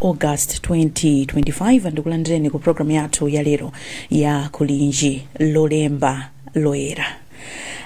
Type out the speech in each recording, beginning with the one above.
august 2025 ndikulandireni ku programu yathu ya lero ya kulinji lolemba loyera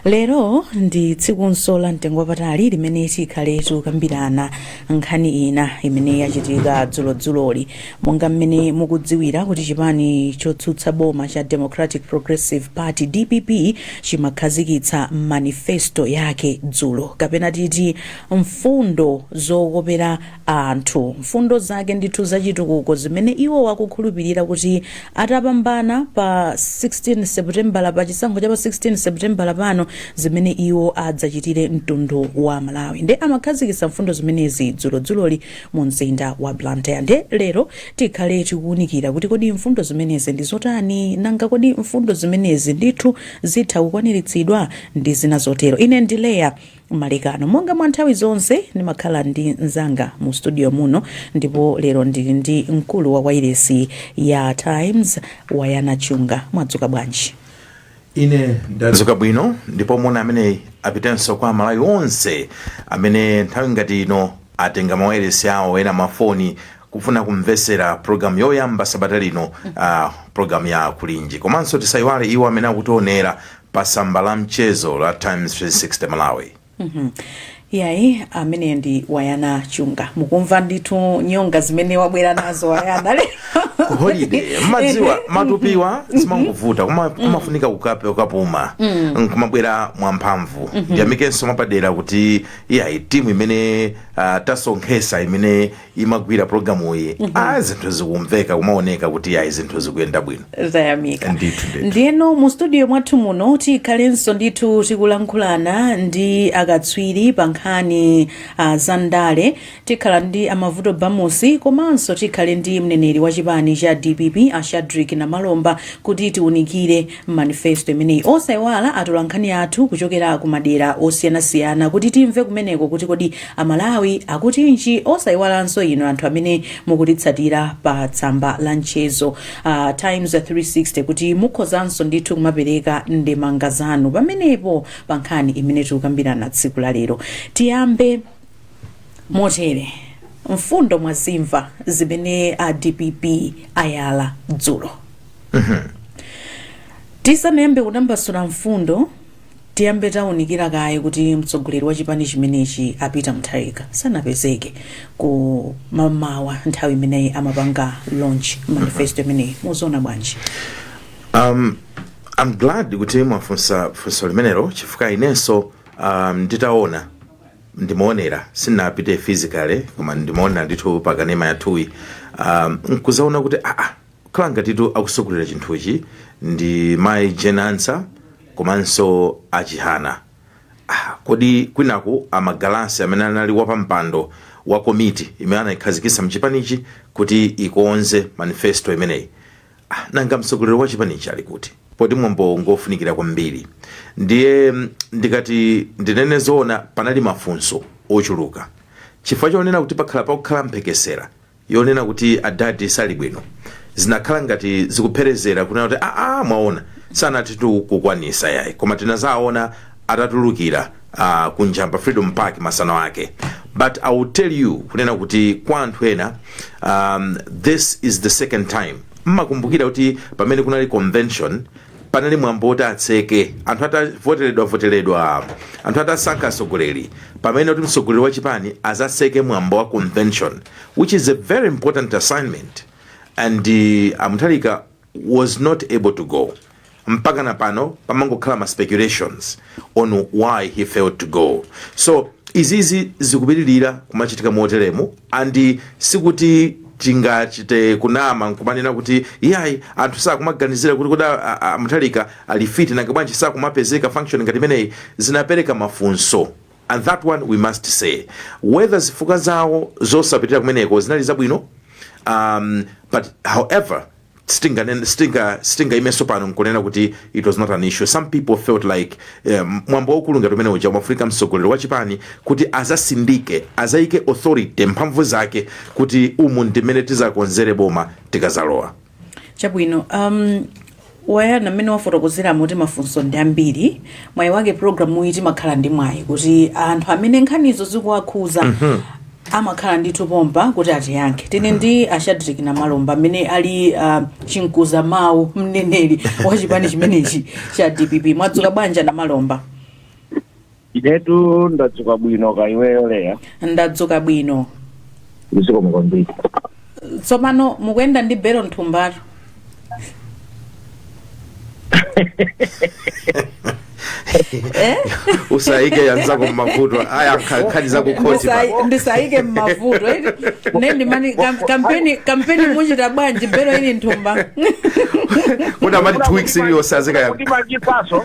lero ndi tsikunso la mtengo wapatali limene tikhale tikukambirana nkhani ina imene yachitika dzulodzuloli monga mmene mukudziwira kuti chipani chotsutsa boma cha democratic progressive party dpp chimakhazikitsa manifesto yake dzulo kapena titi mfundo zokopera anthu mfundo zake ndithu za chitukuko zimene iwo akukhulupirira kuti atapambana pa 16 seputembala pa chisankho cha pa 16 seputembala pano zimene iwo adzachitire mtundu wa malawi nde amakhazikitsa mfundo zimenezi dzulodzuloli mu mzinda wa blantyre nde lero tikhale tikuwunikira kuti kodi mfundo zimenezi ndi zotani nanga kodi mfundo zimenezi ndithu zitha kukwaniritsidwa ndi zina zotero ine ndi leya Malekano. Monga mwa nthawi zonse, ndimakhala ndi mnzanga mu studio muno, ndipo lero ndili ndi mkulu wa wailesi ya Times, Wanangwa Chunga. Mwadzuka bwanji? Ine ndadzuka bwino, ndipo moni ameneyi apitenso kwa Amalawi onse amene nthawi ngati ino atenga mawailesi awo ena mafoni kufuna kumvetsera programu yoyamba sabata lino uh, programu ya kulinji komanso tisayiwale iwo amene akutionera pa tsamba la mchezo la times 360 malawi yayi amene ndi wayana chunga mukumva ndithu nyonga zimene wabwera nazo wayana lero ku holiday mmadziwa matupiwa zimangovuta koma kumafunika ukape ukapuma nkumabwera mwamphamvu ndiyamikenso mwapadera kuti iyayi timu imene ah, tasonkhesa imene imagwira programuyi a zinthu zikumveka kumaoneka kuti ayi zinthu zikuyenda bwino tayamika Ndithu, ndithu. ndiyeno mu studio mwathu muno tikhalenso ndithu tikulankhulana ndi akatswiri pa nkhani uh, za ndale tikhala ndi a mavuto bamusi komanso tikhale ndi mneneri wa chipani cha dpp a shadric namalomba kuti tiunikire manifesto imeneyi. Osaiwala atolankhani athu kuchokera ku madera osiyanasiyana kuti timve kumeneko kuti kodi Amalawi akutinji. Osaiwalanso inu anthu amene mukutitsatira pa tsamba la mchezo la Times 360 kuti mukhozanso ndithu kumapereka ndemanga zanu pamenepo pa nkhani imene tikukambirana tsiku la lero. Tiyambe motere. Mfundo mwazimva zimene a dpp ayala dzulo. tisanayambe kutambasula mfundo tiyambe taunikira kaye kuti mtsogoleri wa chipani chimenechi a peter mutharika sanapezeke kummawa nthawi imene amapanga launch manifesto imeneyi muziona bwanji um, i'm glad kuti mwafunsa funso limenelo chifukwa inenso um, nditaona ndimaonera sinapite physically koma ndimaona ndithu pakanema yathuyi um, nkuzaona kuti aa Kukhala ngatitu akutsogolera chinthuchi ndi mayi Jane Ansah komanso a Chihana. Ah, kodi kwinaku a Magalasi amene anali wapampando wa komiti imene anaikhazikitsa mchipanichi kuti ikonze manifesto imeneyi. Ah, nanga mtsogoleri wa chipanichi ali kuti? Poti mwambowu ngofunikira kwambiri. Ndiye ndikati ndinene zoona panali mafunso ochuluka. Chifukwa chonena kuti pakhala pakukhala mphekesera yonena kuti adadi sali bwino zinakhala ngati zikupherezera kunena kuti aa mwaona sanatitu kukwanisa yayi koma tinazaona atatulukira uh, kunja pa freedom park masana ake but i will tell you kunena kuti kwa anthu ena um, this is the second time mmakumbukira kuti pamene kunali convention panali mwambo woti atseke anthu atavoteredwa voteredwa anthu atasankha atsogoleri pamene kuti mtsogoleri wa chipani azatseke mwambo wa convention which is a very important assignment and uh, a mutharika was not able to go mpakana pano pamangokhala ma speculations on why he failed to go so izizi zikupitirira kumachitika moteremu and sikuti tingachite kunama nkumanena kuti iyayi anthu sakumaganizira kuti kuda a- a- mutharika ali fiti nanga bwanji sakumapezeka function ngati imeneyi zinapereka mafunso and that one we must say whether zifukwa zawo zosapitira kumeneko zinali zabwino um, but however sitinganene sitinga sitingaimenso pano nkunena kuti it was not an issue some people felt like um, mwambo waukulu ngati umene uja umafunika mtsogoleri wa chipani kuti azasindike azaike authority mphamvu zake kuti umu ndimene tizakonzere boma tikazalowa chabwino um, wayana mmene wafotokozera moti mafunso ndi ambiri mwayi wake programu iyi timakhala ndi mwayi kuti anthu amene nkhanizo zikuwakhuza amakhala ndithu pompa kuti atiyankhe tili ndi a shadric namalomba amene ali uh, chimkuza mawu mneneri wa chipani chimenechi cha dpp mwadzuka bwanji namalomba inetu ndadzuka bwino kaya iweyo leya ndadzuka bwino ndizikomo kwambiri tsopano mukuyenda ndi belo mthumbatu eh? usayike yanzako mmavuto ayi nkha- nkhani za kukhoti apa Ndisai- ndisayike mmavuto eti. ne ndimani kam- kampeni kampeni muchita bwanji belo ili mthumba kuti amati two weeks iliyonse azikaya kukhoti machipaso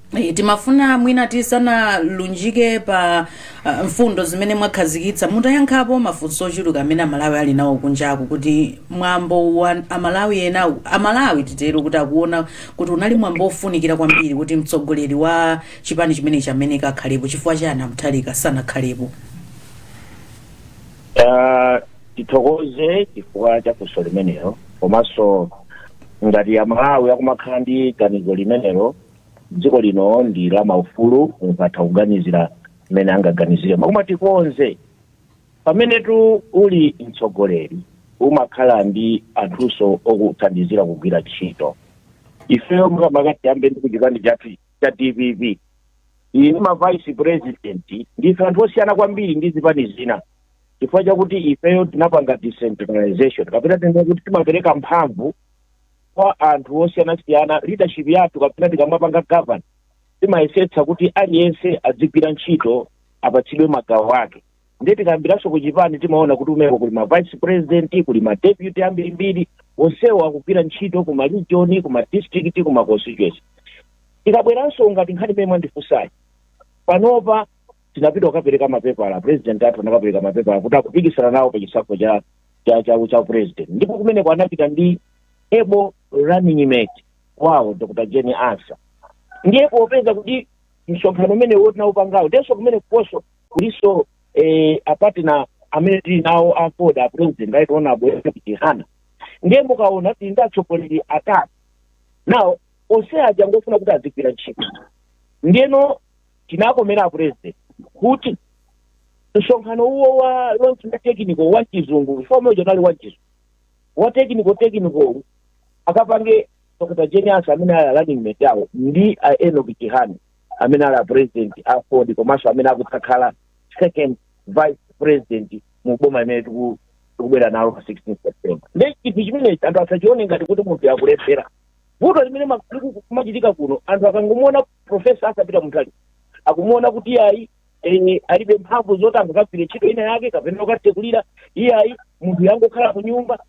Eh, timafuna mwina tisanalunjike pa ah, mfundo zimene mwakhazikitsa mutayankhapo mafunso ochuluka amene amalawi ali nawo kunjaku kuti mwambo wa amalawi ena amalawi titero kuti akuona kuti unali mwambo ofunikira kwambiri kuti mtsogoleri wa chipani chimenechi amene akakhalepo chifukwa chani aMutharika sanakhalepo Ah, tithokoze chifukwa cha funso limenelo komanso ngati amalawi akumakhala ndi ganizo limenelo dziko lino ndi la maufulu munthu atha kuganizira mmene angaganizire koma tikonze pamenetu uli mtsogoleri umakhala ndi anthunso okuthandizira kugwira ntchito ifeyo makamaka tiyambe ndi kuchipani chathu cha dpp ili ndi ma vice president ndife anthu osiyana kwambiri ndi zipani zina chifukwa chakuti ifeyo tinapanga decentralization kapena tinene kuti timapereka mphamvu kwa anthu osiyanasiyana leadership yathu kapena tikamapanga govern timayesetsa kuti aliyense adzigwira ntchito apatsidwe magawo ake ndiye tikayambiranso ku chipani timaona kuti kumeneko kuli ma vice president kuli ma deputy ambirimbiri onsewo akugwira ntchito ku ma region ku ma district ku ma constituency tikabweranso ngati nkhani imene mwandifunsayi panopa tinapita kukapereka mapepala president athu anakapereka mapepala kuti akupikisana nawo pa chisankho cha cha cha, cha upresident ndipo kumeneko anapita ndi able running mate wawo dr Jane Ansah ndiye popeza kuti msonkhano umene uwo tinaupangawo ndiyenso kumene ukonso kulinso eh, a partner amene tili nawo AFORD a president right honorable chihana ndiye mukaona tili ndi atsogoleri atatu ndiye onse aja ngofuna kuti azigwira ntchito ndiyeno tinakomana ndi apresident kuti msonkhano uwo wa launch wa technical wa chizungu chifukwa uja unali wa chizungu wa technical technical akapange dr Jane Ansah amene ali running mate wawo ndi a Enock Chihana amene ali apresident a AFORD komanso amene akudzakhala second vice president mu boma imene tiku- tikubwera nalo pa 16 september nde chinthu chimenechi anthu asachione ngati kuti munthu akulephera vuto limene ma- liku- kumachitika kuno anthu akangomuona profesa Arthur Peter Mutharika akumuona kuti iyayi eh, alibe mphamvu zoti angakagwire ntchito ina yake kapena yokatsekulira iyayi munthu yangokhala ku nyumba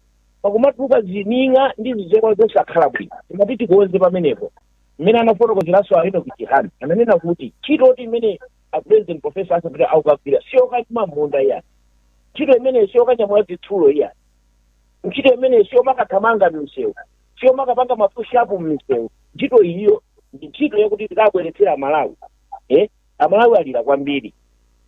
pakumatuluka zining'a ndi zizekwa zosakhala bwino timati tikonze pamenepo mmene anafotokozeranso a enock chihana ananena kuti ntchito yoti imene a president profesa Arthur Peter akukagwira siyokalima mmunda iyayi ntchito imeneyo siyokanyamula zitsulo iyayi ntchito imeneyo siyomakathamanga mmisewu siyomakapanga mapushapu mmisewu ntchito iyiyo ndi ntchito yakuti tikabweretsera amalawi eh? amalawi alira kwambiri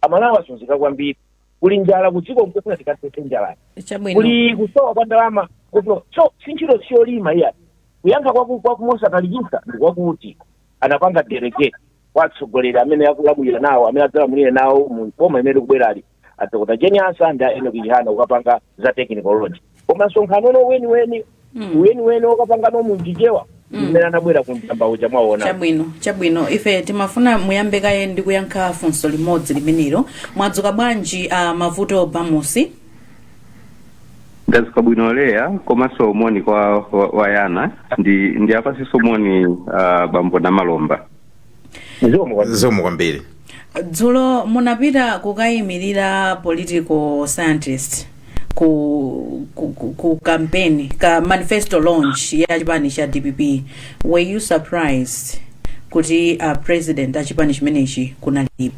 amalawi azunzika kwambiri kuli njala kudziko mkufuna tikathetse njalayi chabwino kuli kusowa kwa ndalama kuno so si ntchito siyolima iyayi kuyankha kwaku kwakumosatalikisa ndi kwakuti anapanga delegate kwa atsogoleri amene akulamulira nawo amene adzalamulire nawo mu boma imene likubwerali a dr jane ansah ndi a enock chihana ukapanga za technology koma msonkhano uno weniweni Mm. weniweni ukapangano mundichewa mmene anabwera ku njamba uja mwaona chabwino chabwino ife timafuna muyambe kaye ndi kuyankha funso limodzi limenelo mwadzuka bwanji uh, mavuto bamusi ndadzuka bwino leya komanso moni kwa wa- wayana ndi ndi apasinso moni uh, bambo namalomba zikomo kwa zikomo kwambiri dzulo munapita kukayimirira political scientist ku, ku, ku, ku campaign ka manifesto launch ya chipani cha dpp were you surprised kuti a president a chipani chimenechi kunalibe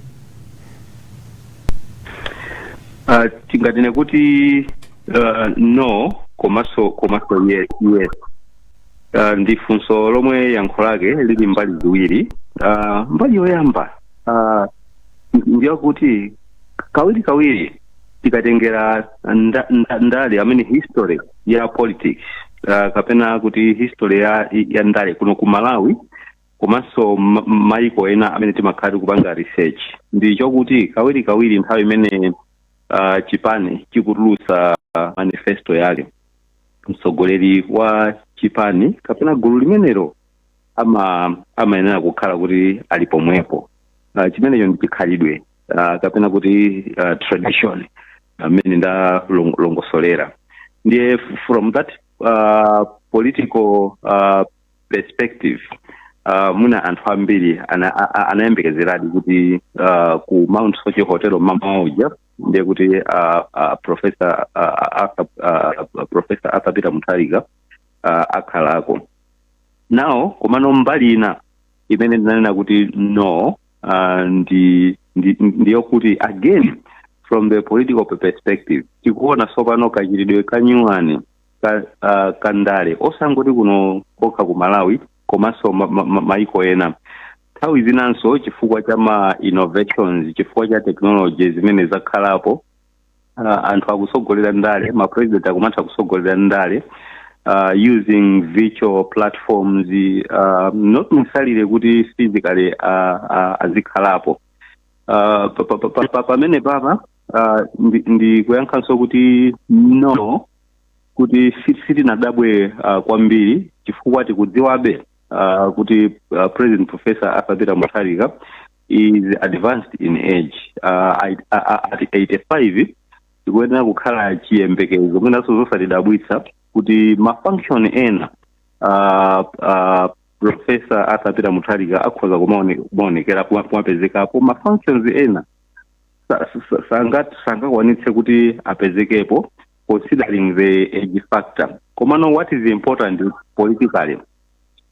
Uh, tinganene kuti uh, no komanso komanso yes, yes. uh, ndi funso lomwe yankho lake lili mbali ziwiri uh, mbali yoyamba uh, ndiyakuti kawiri kawiri tikatengera nda, nda, ndale amene history ya politics uh, kapena kuti history ya, ya ndale kuno ku malawi komanso ma- maiko ena amene timakhala tikupanga research ndi chokuti kawiri kawiri nthawi imene uh, chipani chikutulutsa uh, manifesto yake mtsogoleri wa chipani kapena gulu limenelo ama amayenera kukhala kuti ali pomwepo uh, chimenecho ndi chikhalidwe uh, kapena kuti uh, tradition mmene ndalongosolera ndiye f- from that uh, political uh, perspective uh, mwina anthu ambiri ana- a- a- anayembekezeradi kuti uh, ku mount soche hotel mamawa uja ndiye kuti uh, uh, profesa uh, Arthur, uh, profesa Arthur Peter Mutharika uh, akhalako nawo komano mbali ina imene ndinanena kuti no uh, ndi ndi- ndiyokuti again from the political perspective tikuona tsopano kachitidwe kanyuwani ka, uh, ka ndale osangoti kuno kokha ku malawi komanso ma, ma, ma, maiko ena nthawi zinanso chifukwa cha ma innovations chifukwa cha technology zimene zakhalapo uh, anthu akutsogolera ndale ma president akumatha kutsogolera ndale uh, using virtual platforms uh, not necessarily kuti physically uh, uh, azikhalapo uh, pa- pa- pa- pa- pa- pamenepapa uh, ndi- ndikuyankhanso kuti no kuti si- sitinadabwe uh, kwambiri chifukwa tikudziwabe uh, kuti uh, president professor arthur peter mutharika is advanced in age uh, I- I- I- at 85 tikuyenera kukhala chiyembekezo mwinanso zosatidabwitsa kuti mafunction ena uh, uh, professor arthur peter mutharika akhoza kumaone- kumaonekera kuma- kumapezekapo mafunctions ena sa- sa- sangat- sangakwanitse kuti apezekepo considering the age factor komano what is important politically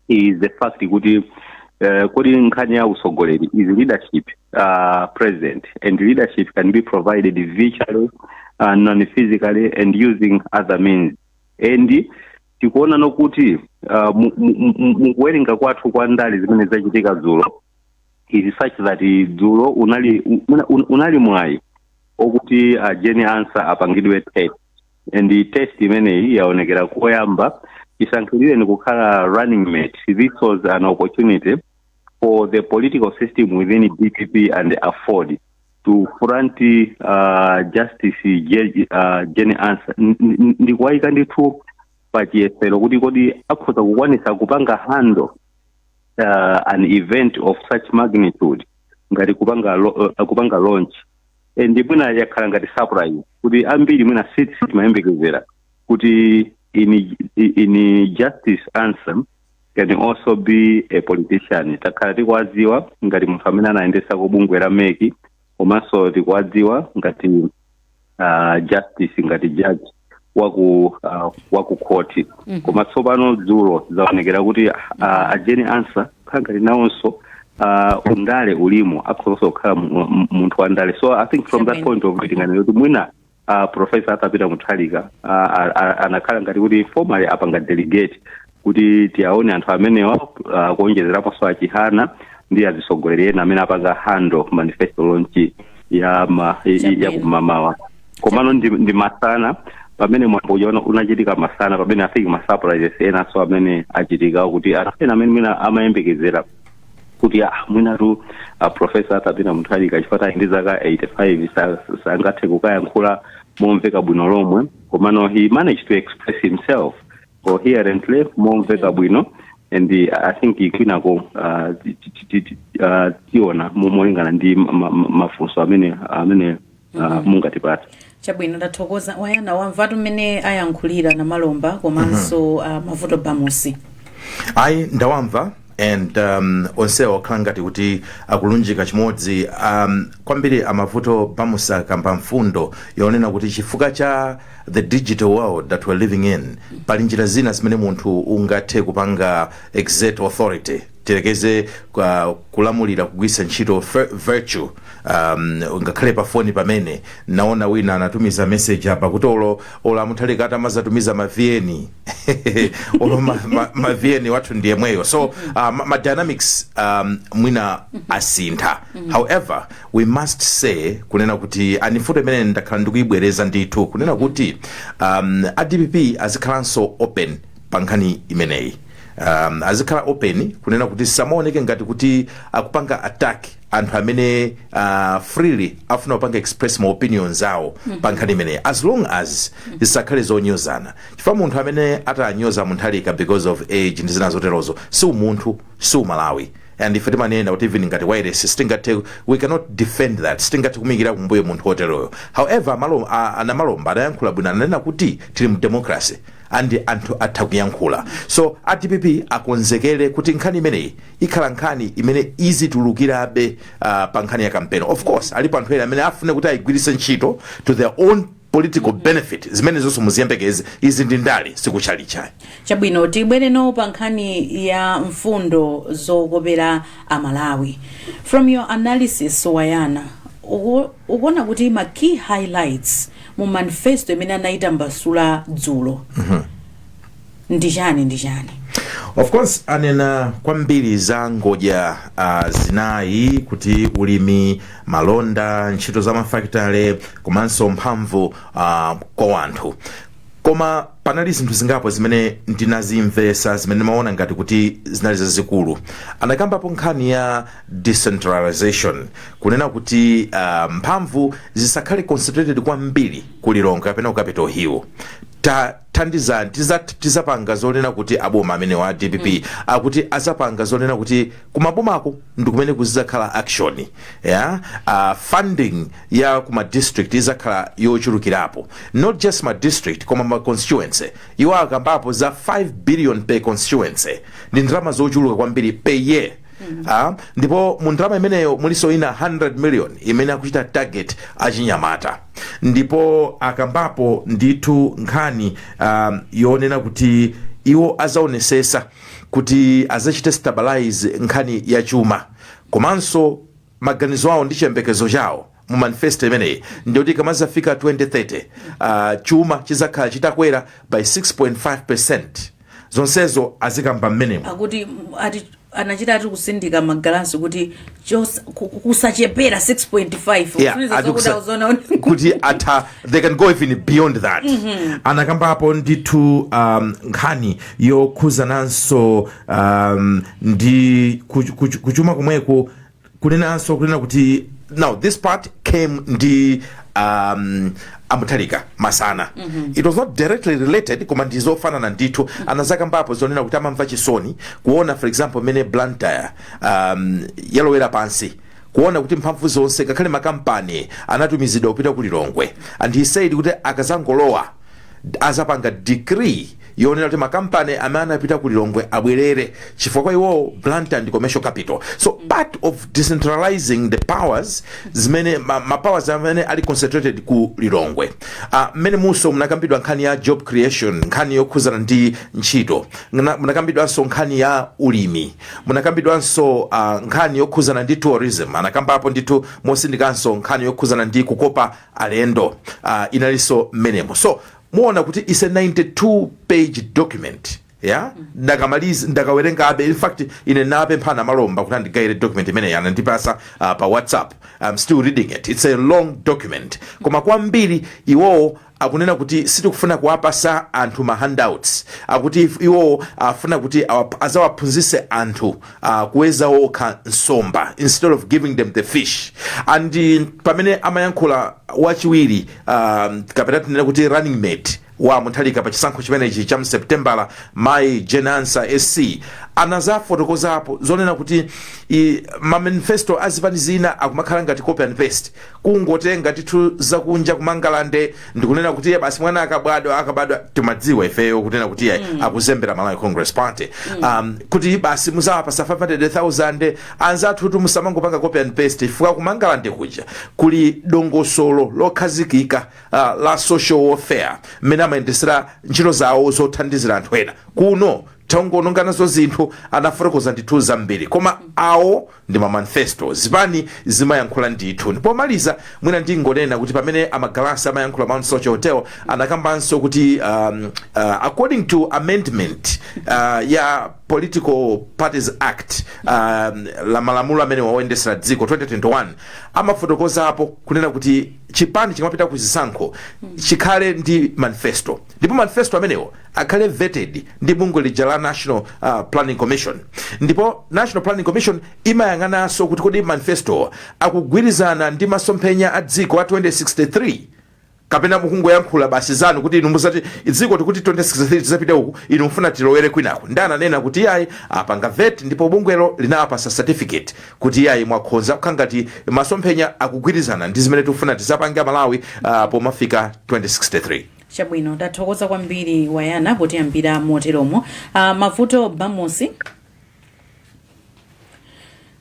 is the fact kuti uh, kodi nkhani ya usogoleri is leadership uh, present and leadership can be provided virtually uh, non physically and using other means and tikuonano kuti uh, mu- mu- mu- mu- mukuwerenga kwathu kwa ndale zimene zachitika dzulo is such that dzulo unali un- un- unali mwayi okuti a Jane Ansah apangidwe test and the test imeneyi yaonekera koyamba chisankhidwireni kukhala running mate this was an opportunity for the political system within dpp and aford to front uh, justice Je- uh, Jane Ansah N- n- ndikuwayika ndithu pachiyesero kuti kodi akhoza kukwanisa kupanga handle uh, an event of such magnitude ngati kupanga lo, uh, kupanga launch and mwina yakhala ngati surprise kuti ambiri mwina sit sitimayembekezera kuti in, in justice Ansah can also be a politician takhala tikuwadziwa ngati munthu amene anayendesako bungwe la MEC komanso tikuwadziwa ngati uh, justice ngati judge waku uh, waku khoti Mhm. koma tsopano dzulo zaonekera kuti uh, a Jane Ansah kukhala ngati nawonso uh, undale ulimo akhozonso kukhala mu- mu- munthu wa ndale so i think from that point of view tinganene kuti mwina uh, professor arthur peter mutharika uh, a- a- anakhala ngati kuti informally apanga delegate kuti tiyaone anthu amenewa uh, kuonjezeraponso a Chihana ndi azitsogoleri ena amene apanga handle manifesto launch ya ma, i- i- ya kumamawa komano ndi, ndi masana pamene mwambo uja una- unachitika masana pamene afiki masurprises enanso amene achitika kuti anthu ena amene mwina amayembekezera kuti ah, mwinatu ah, professor arthur peter mutharika chifukwa ali ndi zaka 85 sa- sangathe kukayankhula momveka bwino lomwe komano he managed to express himself coherently momveka bwino and uh, i think kwinako uh, ti- ti- ti- ti- ti- uh, tiona mo- molingana ndi ma- ma- ma- mafunso amene amene uh, mungatipatse chabwino ndathokoza wayana wamvatu mmene ayankhulira namalomba komanso uh, mavuto bamusi ayi ndawamva and um, onsewa okhala ngati kuti akulunjika chimodzi um, kwambiri amavuto bamusi akamba mfundo yonena kuti chifukwa cha the digital world that we're living in pali njira zina zimene munthu ungathe kupanga exert authority tiyerekeze kulamulira kugwiritsa ntchito vir- virtual um, ngakhale pa foni pamene naona wina anatumiza message apa kuti olo olo amutharika atamazatumiza ma vn olo ma, ma, ma vn wathu ndi yemweyo so uh, ma, ma dynamics um, mwina asintha however we must say kunena kuti ndi mfundo imene ndakhala ndikuyibwereza ndithu kunena kuti um, a dpp azikhalanso open pa nkhani imeneyi um, azikhala open kunena kuti samaoneke ngati kuti akupanga attack anthu amene uh, freely afuna kupanga express ma opinions awo mm -hmm. pa nkhani imeneyi as long as mm -hmm. zisakhale zonyozana chifukwa munthu amene atanyoze mutharika because of age ndi zina zoterozo si umunthu si umalawi and ife timanena kuti even ngati wairesi sitingathe we cannot defend that sitingathe kumikira kumbuyo munthu woteroyo however malo, a, a namalomba anayankhula bwino ananena kuti tili mu democracy and anthu atha kuyankhula so a dpp akonzekere kuti nkhani imeneyi ikhala nkhani imene izitulukirabe uh, pa nkhani ya kampeni of course alipo anthu ena amene afune kuti ayigwiritse ntchito to their own political benefit zimenezonso muziyembekeze izi ndi ndale si kutchalitchi ayi chabwino tibwereno pa nkhani ya mfundo zokopera amalawi from your analysis wayana uku- ukuona kuti ma key highlights mu manifesto imene anayitambasula dzulo ndi chani ndi chani of course anena kwambiri za ngodya uh, zinayi kuti ulimi malonda ntchito za mafakitore komanso mphamvu uh, kwa anthu koma panali zinthu zingapo zimene ndinazimvesa zimene ndimaona ngati kuti zinali zazikulu anakambapo nkhani ya decentralization kunena kuti uh, mphamvu zisakhale concentrated kwambiri ku lilongwe kapena ku capital hill ta tandizani tiza, tizapanga zonena kuti aboma amenewa a dpp mm. akuti azapanga zonena kuti kumabomako ndikumene kuzizakhala action yeah? uh, funding ya kuma district izakhala yochulukirapo not just ma district koma ma constituency iwo akambapo za 5 billion per constituency ndi ndalama zochuluka kwambiri per year Ah, ndipo mu ndalama imeneyo mulinso ina 100 million imene akuchita target achinyamata ndipo akambapo ndithu nkhani um, yonena kuti iwo azaonesesa kuti azachite stabilize nkhani ya chuma komanso maganizo awo ndi chiyembekezo chawo mu manifesto imeneyi ndiyoti ikamazafika 2030 uh, chuma chizakhala chitakwera by 6.5 percent zonsezo azikamba mmenemo akuti ati anachita ati kutsindika a Magalasi kuti chos- ku- ku- kusachepera 6.5 Yeah, Kusonyeza ati zokuti kusa- akuziona kuti- kuti atha they can go even beyond that anakambapo ndithu um, nkhani yokhuzananso um, ndi kuch- kuch- kuchuma kumweku kunenanso kunena kuti now this part came ndi um, a Mutharika masana mm -hmm. it was not directly related koma ndi zofanana ndithu mm -hmm. anazakambapo zonena kuti amamva chisoni kuona for example mmene blantyre um, yalowera pansi kuona kuti mphamvu zonse ngakhale makampani anatumizidwa kupita ku lilongwe and he said kuti akazangolowa azapanga decree yonena kuti makampani amene anapita ku lilongwe abwerere chifukwa kwa iwowo blantyre ndi commercial capital so part of decentralizing the powers zimene ma, ma powers amene ali concentrated ku lilongwe Ah, mmenemuso munakambidwa nkhani ya job creation nkhani yokhuzana ndi ntchito Ngana- munakambidwanso nkhani ya ulimi munakambidwanso ah, nkhani yokhuzana ndi tourism anakambapo ndithu motsindikanso nkhani yokhuzana ndi kukopa alendo ah, inalinso mmenemo so muona kuti is a 92 page document ya ndakamaliza ndakawerengabe in fact ine ndinapempha Namalomba kuti andigayire document imeneyi anandipasa uh, pa whatsapp i'm still reading it it's a long document koma kwambiri iwowo akunena kuti sitikufuna kuwapasa anthu ma handouts akuti if- iwowo afuna kuti awa- azawaphunzise anthu uh, kuweza okha nsomba instead of giving them the fish and uh, pamene amayankhula wachiwiri um, kapena tinene kuti running mate wa Mutharika pa chisankho chimenechi cha mseptembala mayi Jane Ansah SC anazafotokozapo zonena kuti i, mamanifesto a zipani zina akumakhala ngati copy and paste kungotenga zinthu zakunja kumangalande ndikunena kuti iye basi mwana akabadwa akabadwa timadziwa ifeyo kunena kuti iye akuzembera malawi congress party um, kuti basi muzawapasa 500000 Anzathutu musamangopanga copy and paste chifukwa ku Mangalande kuja kuli dongosolo lokhazikika ah, la social welfare mmene amayendesera ntchito zawo zothandizira anthu ena. Kuno tangoononga nazo zinthu anafotokoza ndithu zambiri koma awo ndi ma manifesto zipani zimayankhula ndithu ndi pomaliza mwina ndingonena kuti pamene a Magalasi amayankhula mount soche hotel anakambanso kuti um, uh, according to amendment uh, ya political parties act um, la malamulo amenewa oyendesera dziko 2021 amafotokozapo kunena kuti chipani chikamapita ku zisankho chikhale ndi manifesto ndipo manifesto amenewo akhale vetted ndi bungwe lija la national uh, planning commission ndipo national planning commission imayang'ananso kuti kodi manifesto akugwirizana ndi masomphenya a dziko a 2063 kapena mukungoyankhula basi zanu kuti inu musati dziko tikuti 2063 tizapite uku inu mufuna tilowere kwinako ndiye ananena kuti iyayi apanga vet ndipo bungwelo linawapasa certificate kuti iyayi mwakhonza kukhala ngati masomphenya akugwirizana ndi zimene tikufuna tizapange malawi uh, pomafika 2063 chabwino tathokoza kwambiri wayana potiyambira moteromo uh, mavuto bamusi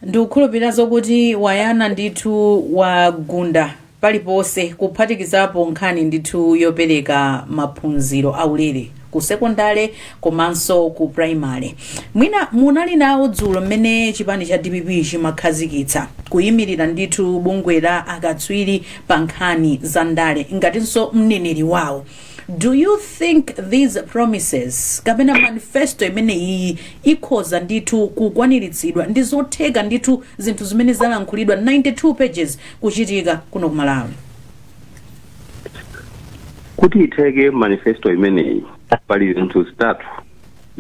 ndikukhulupirira zokuti wayana ndithu wagunda paliponse kuphatikizapo nkhani ndithu yopereka maphunziro aulere ku sekondale komanso ku primary mwina munali nawo dzulo mmene chipani cha dpp chimakhazikitsa kuyimirira ndithu bungwe la akatswiri pa nkhani za ndale ngatinso mneneri wawo do you think these promises kapena manifesto imene iyi ikhoza ndithu kukwaniritsidwa ndi zotheka ndithu zinthu zimene zalankhulidwa 92 pages kuchitika kuno ku malawi kuti itheke manifesto imeneyi pali zinthu zitatu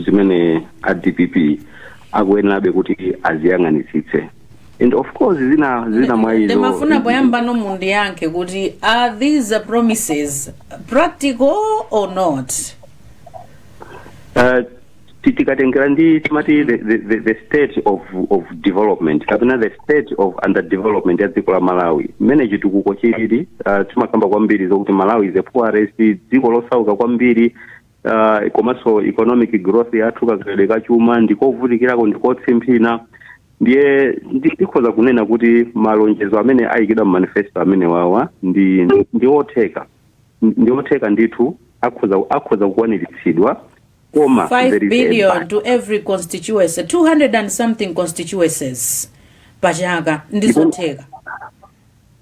zimene a dpp akuyenerabe kuti aziyang'anitsitse and of course zina zina mwa izo ndimafuna poyamba pomwe mundiyankhe kuti are these promises practical or not Uh, ti- tikatengera ndi timati the, the, the- the state of, of development kapena the state of underdevelopment ya dziko la malawi mmene chitukuko chilili uh, timakamba kwambiri zokuti malawi is a poorest dziko losauka kwambiri uh, komanso economic growth yathu kakulidwe ka chuma ndikovutikirako ndikotsimphina ndiye ndi- ndikhoza kunena kuti malonjezo amene ayikidwa mu manifesto amene wawa ndi ndi- ndi otheka ndi otheka ndithu akhoza akhoza kukwaniritsidwa koma 5 there is a billion but. to every constituency 200 and something constituencies pachaka ndizotheka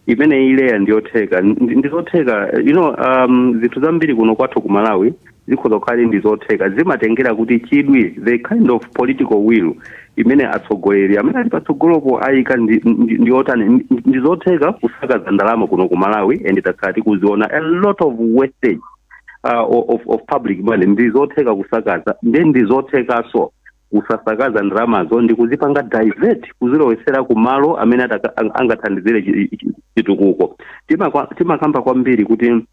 imene ileya ndiyotheka Ndi- ndizotheka you know um, zinthu zambiri kuno kwathu ku malawi zikhoza kukhala ndizotheka zimatengera kuti chidwi the kind of political will imene atsogoleri amene ali patsogolopo ayika ndi- ndi- ndiyotani Ndi- ndizotheka kusakaza ndalama kuno ku malawi and takhala tikuziona a lot of wastage uh, of, of public money ndizotheka kusakaza ndiye ndizothekanso kusasakaza ndalamazo ndi kuzipanga divert kuzilowesera ku malo amene ataka- ang- angathandizire chi- chi- chitukuko Timakwa- timakamba kwambiri kuti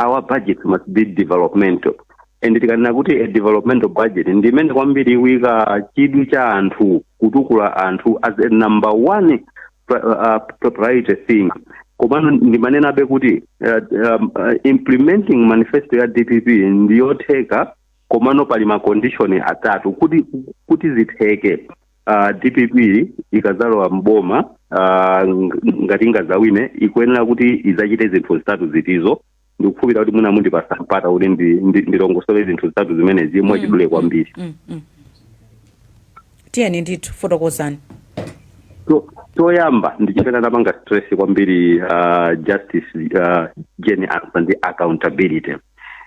our budget must be developmental and tikanena kuti a developmental budget ndi imene kwambiri ikuika chidwi cha anthu kutukula anthu as a number one pri- uh, uh, priority thing komano ndimanenabe kuti uh, um, uh, implementing manifesto ya dpp ndiyotheka komano pali ma condition atatu kuti kuti zitheke uh, dpp ikazalowa mboma uh, ng- ngati ingazawine ikuyenera kuti izachite zinthu zitatu zitizo ndikukhulupirira kuti mwina mundipasa mpata kuti ndi- ndi- ndilongosole zinthu zitatu zimenezi mwachidule kwambiri Mm, mm. tiyeni ndithu fotokozani Cho- choyamba ndi chimene anapanga stress kwambiri uh, justice uh, jane ansah ndi accountability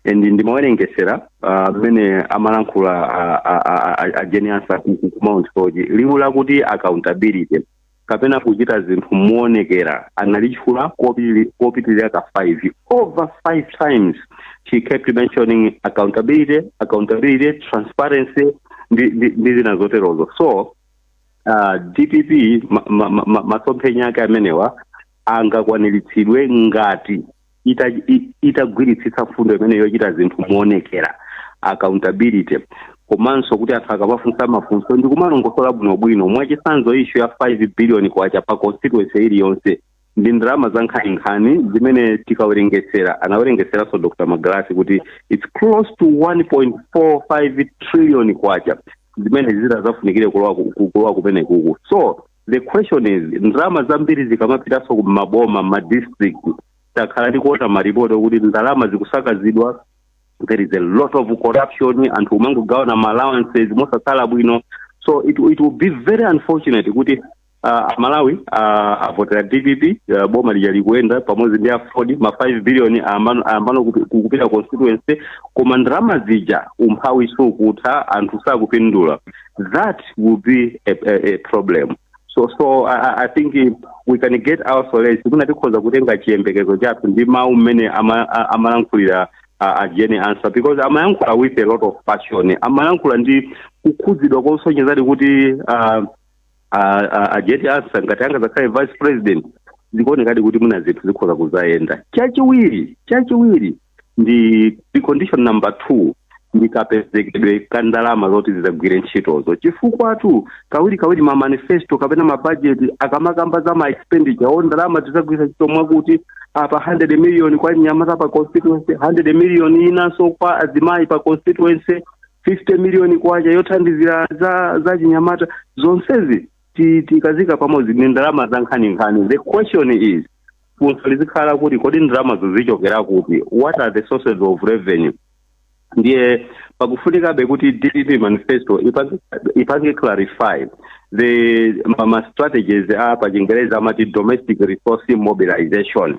and ndimawerengesera ah, mmene amalankhula ah, ah, ah, ah, a jane ansah ku ku- ku mount soche liwu lakuti accountability kapena kuchita zinthu moonekera analitchula kopili- kopitirira ka five over five times she kept mentioning accountability accountability transparency ndi ndi- ndi zina zoterozo so uh, dpp ma- ma- ma- ma- masomphenya ake amenewa angakwaniritsidwe ngati itagwiritsitsa mfundo imene yochita zinthu moonekera accountability komanso kuti anthu akamafunsa mafunso ndi kumalongosola bwinobwino mwachitsanzo issue ya 5 billion kwacha pa constituency iliyonse ndi ndalama za nkhaninkhani zimene tikawerengetsera anawerengetseranso dr magalasi kuti its close to 1.45 trillion kwacha zimene zitazafunikire kulowa kumenekuku so the question is ndalama zambiri zikamapitanso ku maboma ma district takhala tikuona maripoti okuti ndalama zikusakazidwa there is a lot of corruption anthu umangogawana ma allowances mosakhala bwino so it, it will be very unfortunate kuti uh, amalawi uh, avotera dpp uh, boma lija likuyenda pamodzi ndi aford ma 5 billion ayamba, ayambano kupi- kupita constituency koma ndalama zija umphawi sukutha anthu sakupindula that will be a, a, a problem so so I, I- I think eh, we can get our solace mwina tikhoza kutenga chiyembekezo chathu ndi mawu mmene ama- a- amalankhulira a- a Jane Ansah because amayankhula with a lot of passion amayankhula ndi kukhudzidwa kosonyezadi kuti ah, ah, ah, a Jane Ansah ngati angazakhale vice president zikuonekadi kuti mwina zinthu zikhoza kuzayenda chachiwiri chachiwiri ndi precondition number two ndi kapezekedwe ka ndalama zoti zizagwire ntchitozo chifukwatu kawiri kawiri ma manifesto kapena ma budget akamakamba za ma expenditure o ndalama zizagwira ntchito mwakuti apa 100 million kwa achinyamata pa constituency 100 million inanso kwa azimayi pa constituency 50 million kwacha yothandizira za za chinyamata zonsezi ti- tikazika pamodzi ndi ndalama za nkhaninkhani the question is funso lizikhala kuti kodi ndalamazo zichokera kuti what are the sources of revenue ndiye pakufunikabe kuti dpp manifesto ipange- ipange clarify the ma- ma strategies pachingerezi amati domestic resource mobilization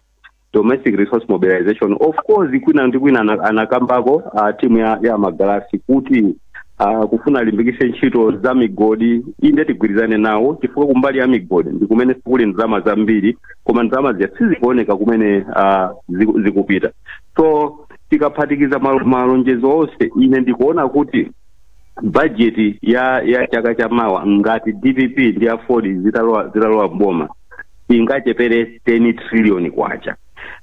domestic resource mobilization of course kwina ndi kwina ana- anakambako a timu ya, ya magalasi kuti uh, kufuna alimbikise ntchito za migodi inde tigwirizane nawo chifukwa kumbali ya migodi ndi kumene kuli ndalama zambiri koma ndalama zija sizikuoneka kumene uh, ziku- zikupita so tikaphatikiza mal- malonjezo onse ine ndikuona kuti bajeti ya ya chaka cha mawa ngati dpp ndi aford zitalowa zitalowa mboma ingachepere 10 trillion kwacha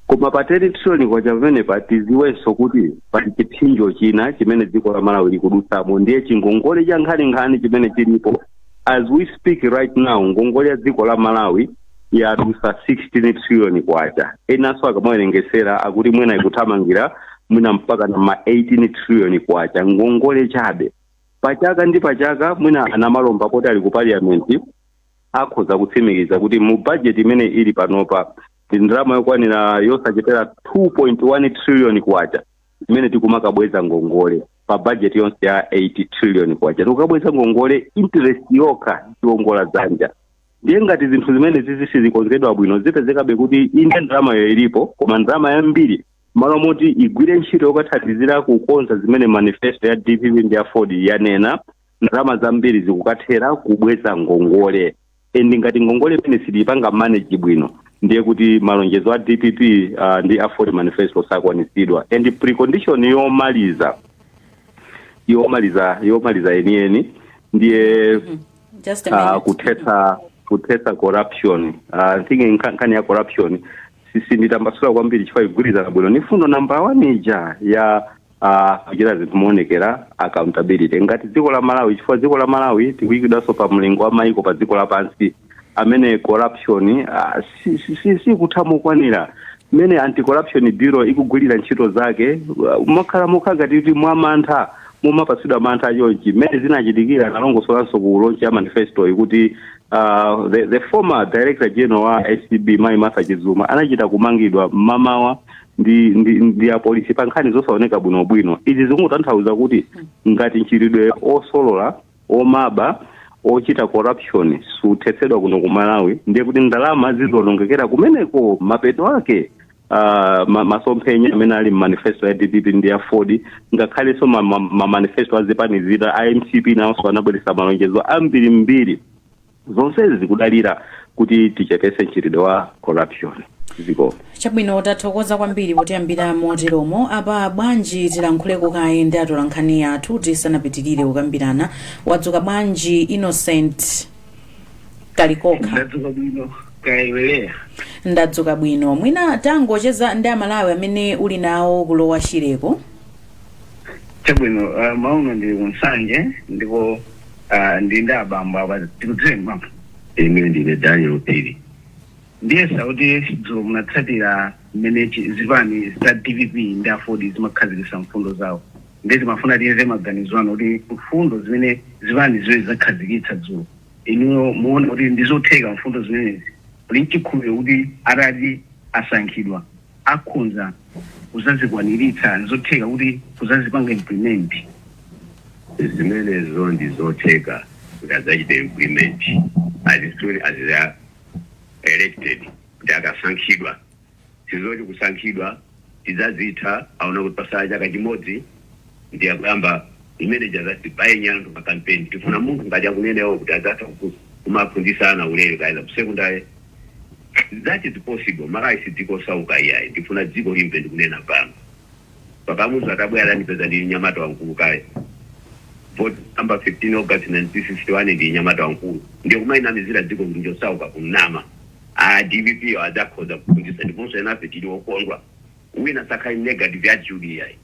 koma pa 10 trillion kwacha pamenepa tiziwenso kuti pali chipsinjo china chimene dziko la malawi likudutsamo ndiye chingongole cha nkhaninkhani chimene chilipo as we speak right now ngongole ya dziko la malawi yadutsa 16 trillion kwacha enanso akamawerengesera akuti mwina ikuthamangira mwina mpaka na ma 18 trillion kwacha ngongole chabe pachaka ndi pachaka mwina anamalomba poti ali ku parliament akhoza kutsimikiza kuti mu budget imene ili panopa ndi ndalama yokwanira yosachepera 2.1 trillion kwacha imene tikumakabweza ngongole pa bajeti yonse ya 8 trillion kwacha tikukabweza ngongole interest yokha chiwongola dzanja ndiye ngati zinthu zimenezi sizikonzedwa bwino zipezekabe kuti inde ndalamayo ilipo koma ndalama yambiri malo moti igwire ntchito yokathandizira kukonza zimene manifesto ya dpp ndi ya aford yanena ndalama zambiri zikukathera kubweza ngongole and ngati ngongole imeneyi sitiyipanga manage bwino ndiye kuti malonjezo a dpp uh, ndi aford manifesto sakwanitsidwa and precondition yomaliza yomaliza yomaliza yeniyeni ndiye Just a uh, minute. kuthetsa kuthetsa corruption uh, I think nka- nkhani ya corruption si- sinditambasula kwambiri chifukwa igwirizana bwino ni fundo namba one ija ya ah, kuchita zinthu moonekera accountability ngati dziko la malawi chifukwa dziko la malawi tikuyikidwanso pa mlingo wa maiko pa dziko lapansi amene corruption ah, si- si- si- sikutha mokwanira mmene anti corruption bureau ikugwirira ntchito zake ah, mokhala mokhala ngati kuti mwamantha kumapatsidwa mantha achonchi mmene zinachitikira analongosolanso ku lonchi ya manifesto kuti ah, the, the former director general wa acb mayi martha chizuma anachita kumangidwa mmamawa ndi ndi ndi apolisi pa nkhani zosaoneka bwinobwino izi zikungotanthauza kuti ngati mchitidwe osolola omaba ochita corruption suthetsedwa kuno ku malawi ndiye kuti ndalama zizionongekera kumeneko mapeto ake ah, ma- masomphenya amene ali mmanifesto ya dpp ndi ya aford ngakhalenso ma- ma- mamanifesto a zipani zina a mcp nawonso anabweretsa malonjezo ambirimbiri zonsezi zikudalira kuti tichepetse mchitidwe wa corruption mdziko chabwino tathokoza kwambiri potiyambira moteromo apa bwanji tilankhuleko kaye ndi atolankhani athu tisanapitirire kukambirana wadzuka bwanji innocent kalikokha ndadzuka bwino kaya iwe leah ndadzuka bwino mwina tangocheza ndi amalawi amene uli nawo ku lower shireko chabwino uh, mmawa uno ndili ku nsanje ndipo Ah, ndili ndi abambo apa tikudziweni bambo ine ndine daniel phiri ndiyesa kuti dzulo munatsatira mmene chi- zipani za dpp ndi aford zimakhazikitsa mfundo zawo ndiye timafuna tiyeze maganizo anu kuti mfundo zimene zipani ziwirizi zakhazikitsa dzulo inuyo muona kuti ndizotheka mfundo zimenezi muli nchikhulupiriro kuti atati asankhidwa akhonza kuzazikwaniritsa? Nzotheka kuti kuzazipanga implement? Zimenezo ndi zotheka kuti adzachite implement as soon as they are elected, kuti akasankhidwa. Sizoti kusankhidwa tidzazitha aona kuti patsala chaka chimodzi ndiye akuyamba imene ija azati baenyera anthu pa campaign tifuna munthu ngati akunenawo kuti azatha kupusa kumaphunzisa ana ulere kaya za ku secondary that is possible malawi si dziko osauka iyayi ndifuna dziko limve ndikunena pano pa kamuzu atabwera adandipeza ndili nyamata wamkulu kale vote number 15 august 1961 ndili nyamata wamkulu ndiye kumayinamizira dziko kuti njosauka kunama a dpp yo adzakhoza kuphunzisa ndiponso enafe tili okondwa wina asakhale negative attitude iyayi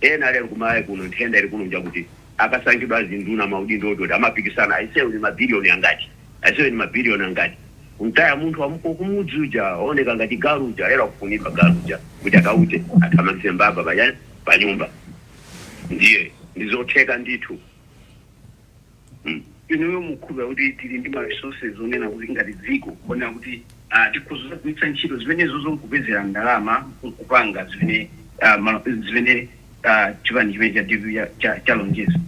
ena lero ku Malawi kuno nthenda ili kuno njakuti akasankhidwa azinduna maudindo oti oti amapikisana aise uyu ndi ma billion angati aise uyu ndi ma billion angati kumtaya munthu wa kumudzi uja ooneka ngati galu uja lero akufunidwa galu uja kuti akaute athamangise mbava pachani panyumba ndiye ndizotheka ndithu. Inuyo mukukhulupirira kuti tili ndi ma resources onena kuti ngati dziko kuonera kuti tikhoza kugwiritsa ntchito zimenezozo nkupezera ndalama nkupanga zimene zimene chipani chimene cha dpp chalonjeza?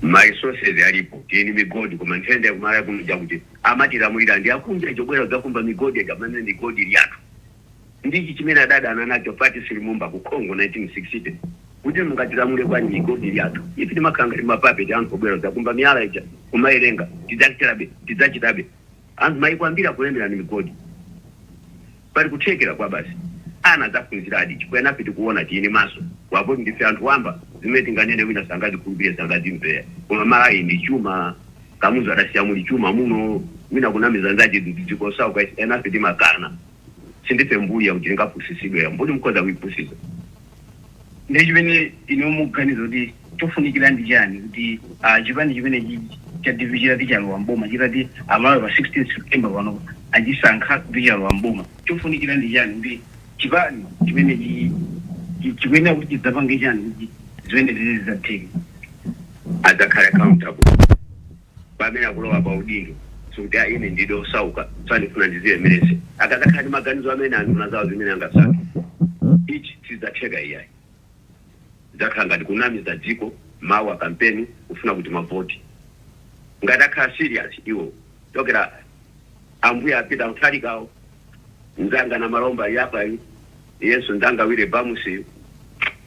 Ma resources alipo, tili ndi migodi koma nthenda ya ku Malawi kuno njakuti amatilamulira ndi akunja aja obwera kudzakumba migodi aja pamene migodi ili yathu. Ndi ichi chimene adadana nacho Patrice Lumumba ku Congo 1960, kuti mungatilamule bwanji migodi yathu? Ife timakhala ngati ma puppet, anthu obwera kudzakumba miyala ija, kumawerenga, tidzachitabe, tidzachitabe. Anthu maiko ambiri akulemera ndi migodi. Pali kuthekera kwa basi. Ana adzaphunziradi chifukwa enafe tikuona, tili ndi maso. Wavatu ndife anthu wamba, zimene tinganene wina sangazikhulupirire, sangazimvere. Koma Malawi ndi chuma. Kamuzu adasiya muli chuma muno wina kunamiza nzake dziko losauka enafe timakana sindife mbuli yakuti tingapusisidwe mbuli mukhoza kuipusisa ndiye chimene inuyo mukuganiza kuti chofunikira ndi chani kuti chipani chimenechi cha dpp chitati chalowa m'boma chitati amalawi pa 16 September pano achisankha kuti chalowa m'boma chofunikira ndi chani kuti chipani chimenechi chi- chikuyenera kuti chidzapange chani kuti zimenezi zidzatheke adzakhale accountable pamene akulowa pa udindo sikuti a ine ndidali osauka tsano ndifuna ndidzilemeretse akadzakhala ndi maganizo amene anduna zawo zimene angasankhe izi zidzatheka iyayi zidzakhala ngati kunamiza dziko mawu akampeni kufuna kuti mavoti ngati akhala serious iwo Chakwera ambuye a Peter Mutharikawo Nzanga Namalomba yapayu iyenso mnzanga wina Bamusi yu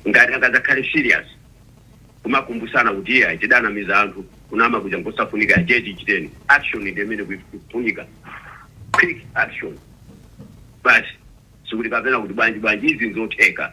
ngati angazakhale serious kumakumbusana kuti iyayi tidanamiza anthu kunama kuja nkosafunika tiye tichiteni action ndi imene ikufunika quick action basi sikuti kapena kuti bwanji bwanji izi nzotheka.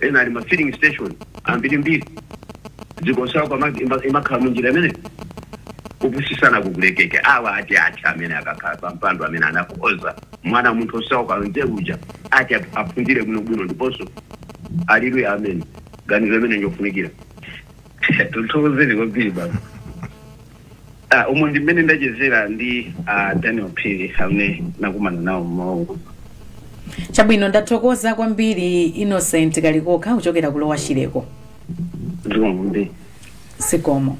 ena ali ma filling station ambirimbiri dziko losauka imakhala munjira imeneyo kupusisana kukulekeka awa ati ati amene akakhala pa mpando amene anakhoza mwana wa munthu osauka nzeru uja ati ap- aphunzire bwinobwino ndiponso ali ndi amene ganizo limene njofunikira tithokozeni kwambiri baba Ah, umu ndi mmene ndachezera ndi a daniel phiri amene nakumana nawo mmawu chabwino ndathokoza kwambiri innocent kalikokha kuchokera ku Lower Shire ko zikomo zikomo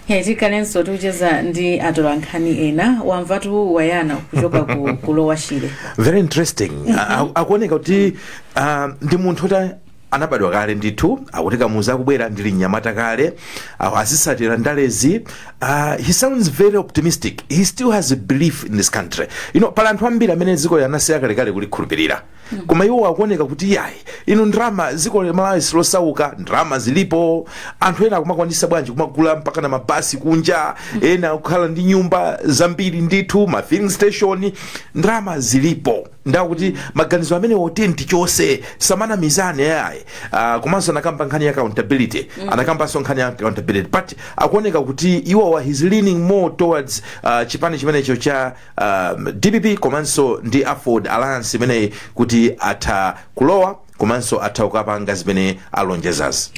Hey, tikhalenso tikucheza ndi atolankhani ena wamvatu bwana kuchoka ku ku Lower Shire very interesting A- a- akuoneka kuti ah, ndi munthu oti anabadwa kale ndithu akuti kamuzu akubwera ndili mnyamata kale awo azitsatira ndalezi uh, he sounds very optimistic he still has a belief in this country you know pali anthu ambiri amene dzikoli anasiya kalekale kulikhulupirira koma iwo akuoneka kuti yayi inu ndrama dziko la malawi silosauka ndrama zilipo anthu ena akumakwanisa bwanji kumagula mpaka na mabasi kunja ena kukhala ndi nyumba zambiri ndithu ma filling station ndrama zilipo ndakuti maganizo amenewo otenti chonse samanamizana ayi uh, komanso anakamba nkhani ya accountability anakambanso nkhani ya accountability but akuoneka kuti iwowa akuchita leaning more towards uh, chipani chimenecho cha um, dpp komanso ndi aford alliance imeneyi kuti atha kulowa komanso atha kukapanga zimene alonjezazi.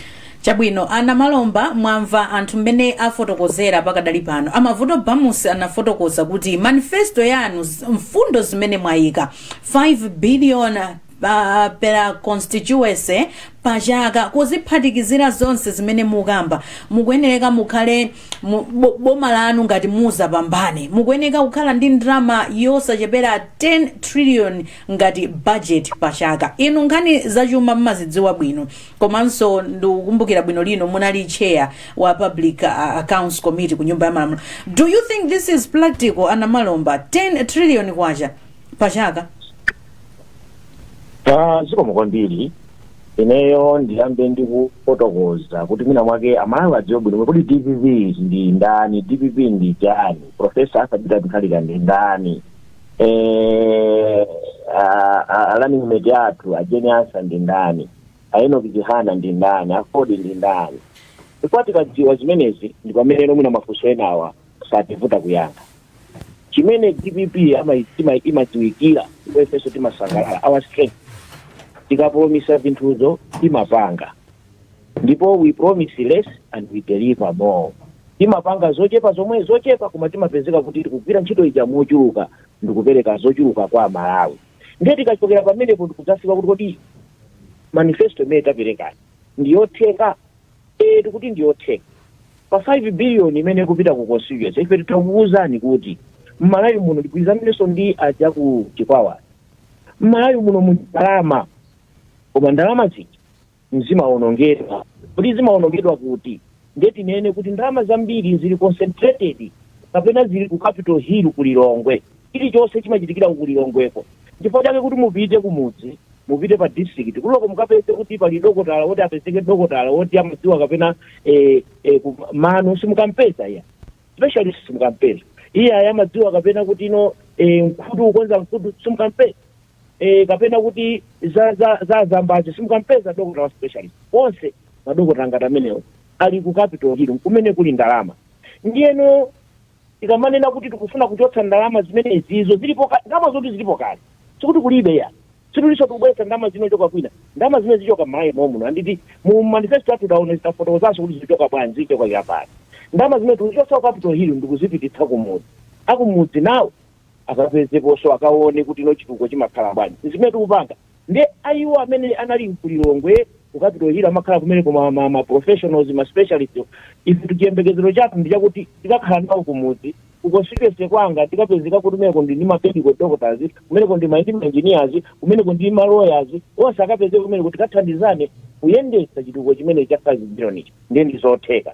Chabwino a Namalomba mwamva anthu mmene afotokozera pakadali pano. A Mavuto Bamusi anafotokoza kuti manifesto yanu z- mfundo zimene mwayika 5 billion pa per constituency pa chaka kuziphatikizira zonse zimene mukamba mukuyenereka mukhale mu- bo- boma lanu ngati mudzapambane mukuyeneka kukhala ndi ndalama yosachepera 10 trillion ngati budget pa chaka. Inu nkhani za chuma mmazidziwa bwino komanso ndikukumbukira bwino lino munali chair wa public uh, accounts committee ku nyumba ya malamulo. Do you think this is practical a Namalomba 10 trillion kwacha pa chaka? Ah, zikomo kwambiri ineyo ndiyambe ndikufotokoza kuti mwina mwake amalawi adziwe bwino kuti dpp ndi ndani dpp ndi chani profesa Arthur Peter Mutharika ndi ndani eh, a- a- a running mate athu a Jane Ansa ndi ndani a Enoch Chihana ndi ndani aford ndi ndani chifukwa tikadziwa zimenezi ndi pamene mwina mafunso enawa sativuta kuyankha chimene dpp ama- tima- imadziwikira ifenso timasangalala our strength tikapromisa zinthuzo timapanga ndipo we promise less and we deliver more timapanga zochepa zomwe zochepa koma timapezeka kuti tikugwira ntchito ija mochuluka ndikupereka zochuluka kwa amalawi ndiye tikachokera pamenepo ndikudzafika kuti kodi manifesto imene taperekayi ndiyotheka ee tikuti ndiyotheka pa 5 billion imene ikupita ku constituency ife tikuwuzani kuti mmalawi muno ndigwirizanenso ndi aja ku chikwawa mmalawi muno muli ndalama koma ndalama zija zimawonongedwa kodi zimawonongedwa kuti ndiye tinene kuti ndalama zambiri zili concentrated kapena zili ku capital hill ku lilongwe chilichonse chimachitikira ku lilongweko chifukwa chake kuti mupite kumudzi mupite pa district kuliko mukapeze kuti pali dokotala woti apezeke dokotala woti amadziwa kapena eh, eh, ku- mano simukampeza iyayi specialist simukampeza iyayi amadziwa kapena kuti ino eh, mkhutu kukonza mkhutu simukampeza eh, kapena kuti za za za azambazi simukampeza dokotala wa specialist onse madokotala ngati amenewo ali ku capital hill kumene kuli ndalama ndiyeno tikamanena kuti tikufuna kuchotsa ndalama zimene izizo zilipo kale ndalama zoti zilipo kale sikuti kulibe ayi situlinso tikubweretsa ndalama zinochoka kwina ndalama zimene zichoka m'malawi momuno and mu manifesto athu taonetsetsa tafotokozanso kuti zichoka bwanji zichoka apa ndi ndalama zimene tikuchotsa ku capital hill ndikuzipititsa kumudzi akumudzi nawo akapezekenso akaone kuti no chitukuko chimakhala bwanji zimene tikupanga ndiye iwo amene anali ku Lilongwe ku capital hill amakhala kumene ku ma, ma, ma professionals ma specialist ife chiyembekezero chathu ndi chakuti tikakhala nawo kumudzi ku constituency kwanga tikapezeka kuti kumeneko ndi ndi ma medical doctors kumeneko ndi ma ndi ma engineers kumeneko ndi ma lawyers onse akapezeka kumeneko tikathandizane kuyendetsa chitukuko chimene cha 5 billion ichi ndiye ndi zotheka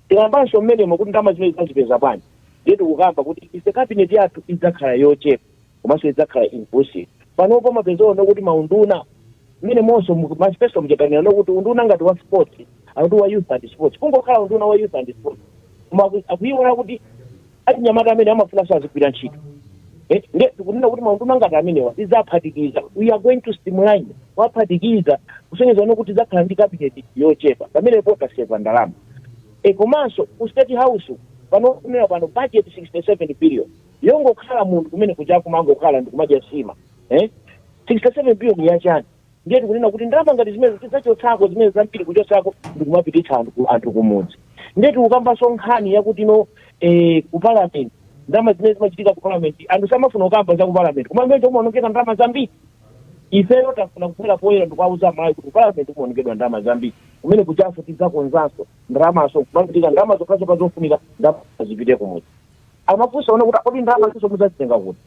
Tikambanso mmenemo kuti ndalama zimene tidzazipeza bwanji ndiye tikukamba kuti ife cabinet yathu idzakhala yochepa komanso idzakhala inclusive. Panopo umapeza ano kuti maunduna mmenemonso mu manifesto muja tanena no kuti unduna ngati wa sports akuti wa youth and sports kungokhala unduna wa youth and sports koma aku- akuiwala kuti achinyamata amene amafunanso azigwira ntchito Eh, nde tikunena kuti maunduna ngati amenewa tidzaphatikiza we are going to streamline waphatikiza kusonyeza ono kuti tidzakhala ndi kabineti yochepa pamenepo taseva ndalama e komanso ku state house pano kunena pano budget 67 billion yongokhala munthu kumene kuja kumangokhala ndikumadya sima eh? 67 billion yachani ndiye tikunena kuti ndalama ngati zimene tidzachotsako zimene zambiri kuchotsako ndikumapititsa anthu kumudzi ndiye tikukambanso nkhani yakuti no eh, ku parliament ndalama zimene zimachitika ku parliament anthu samafuna kukamba za ku parliament koma mbezo kumaonongeka ndalama zambiri ifeyo tafuna kubwera poyera ndikuwauza amalawi kuti parliament kumaonongedwa ndalama zambiri kumene kujanso tidzakonzanso ndalamazo kumapita ndalama zokhazo pazofunika ndalama zipite kumudzi amafunsa ona kuti kodi ndalama izo mudzazitenga kuti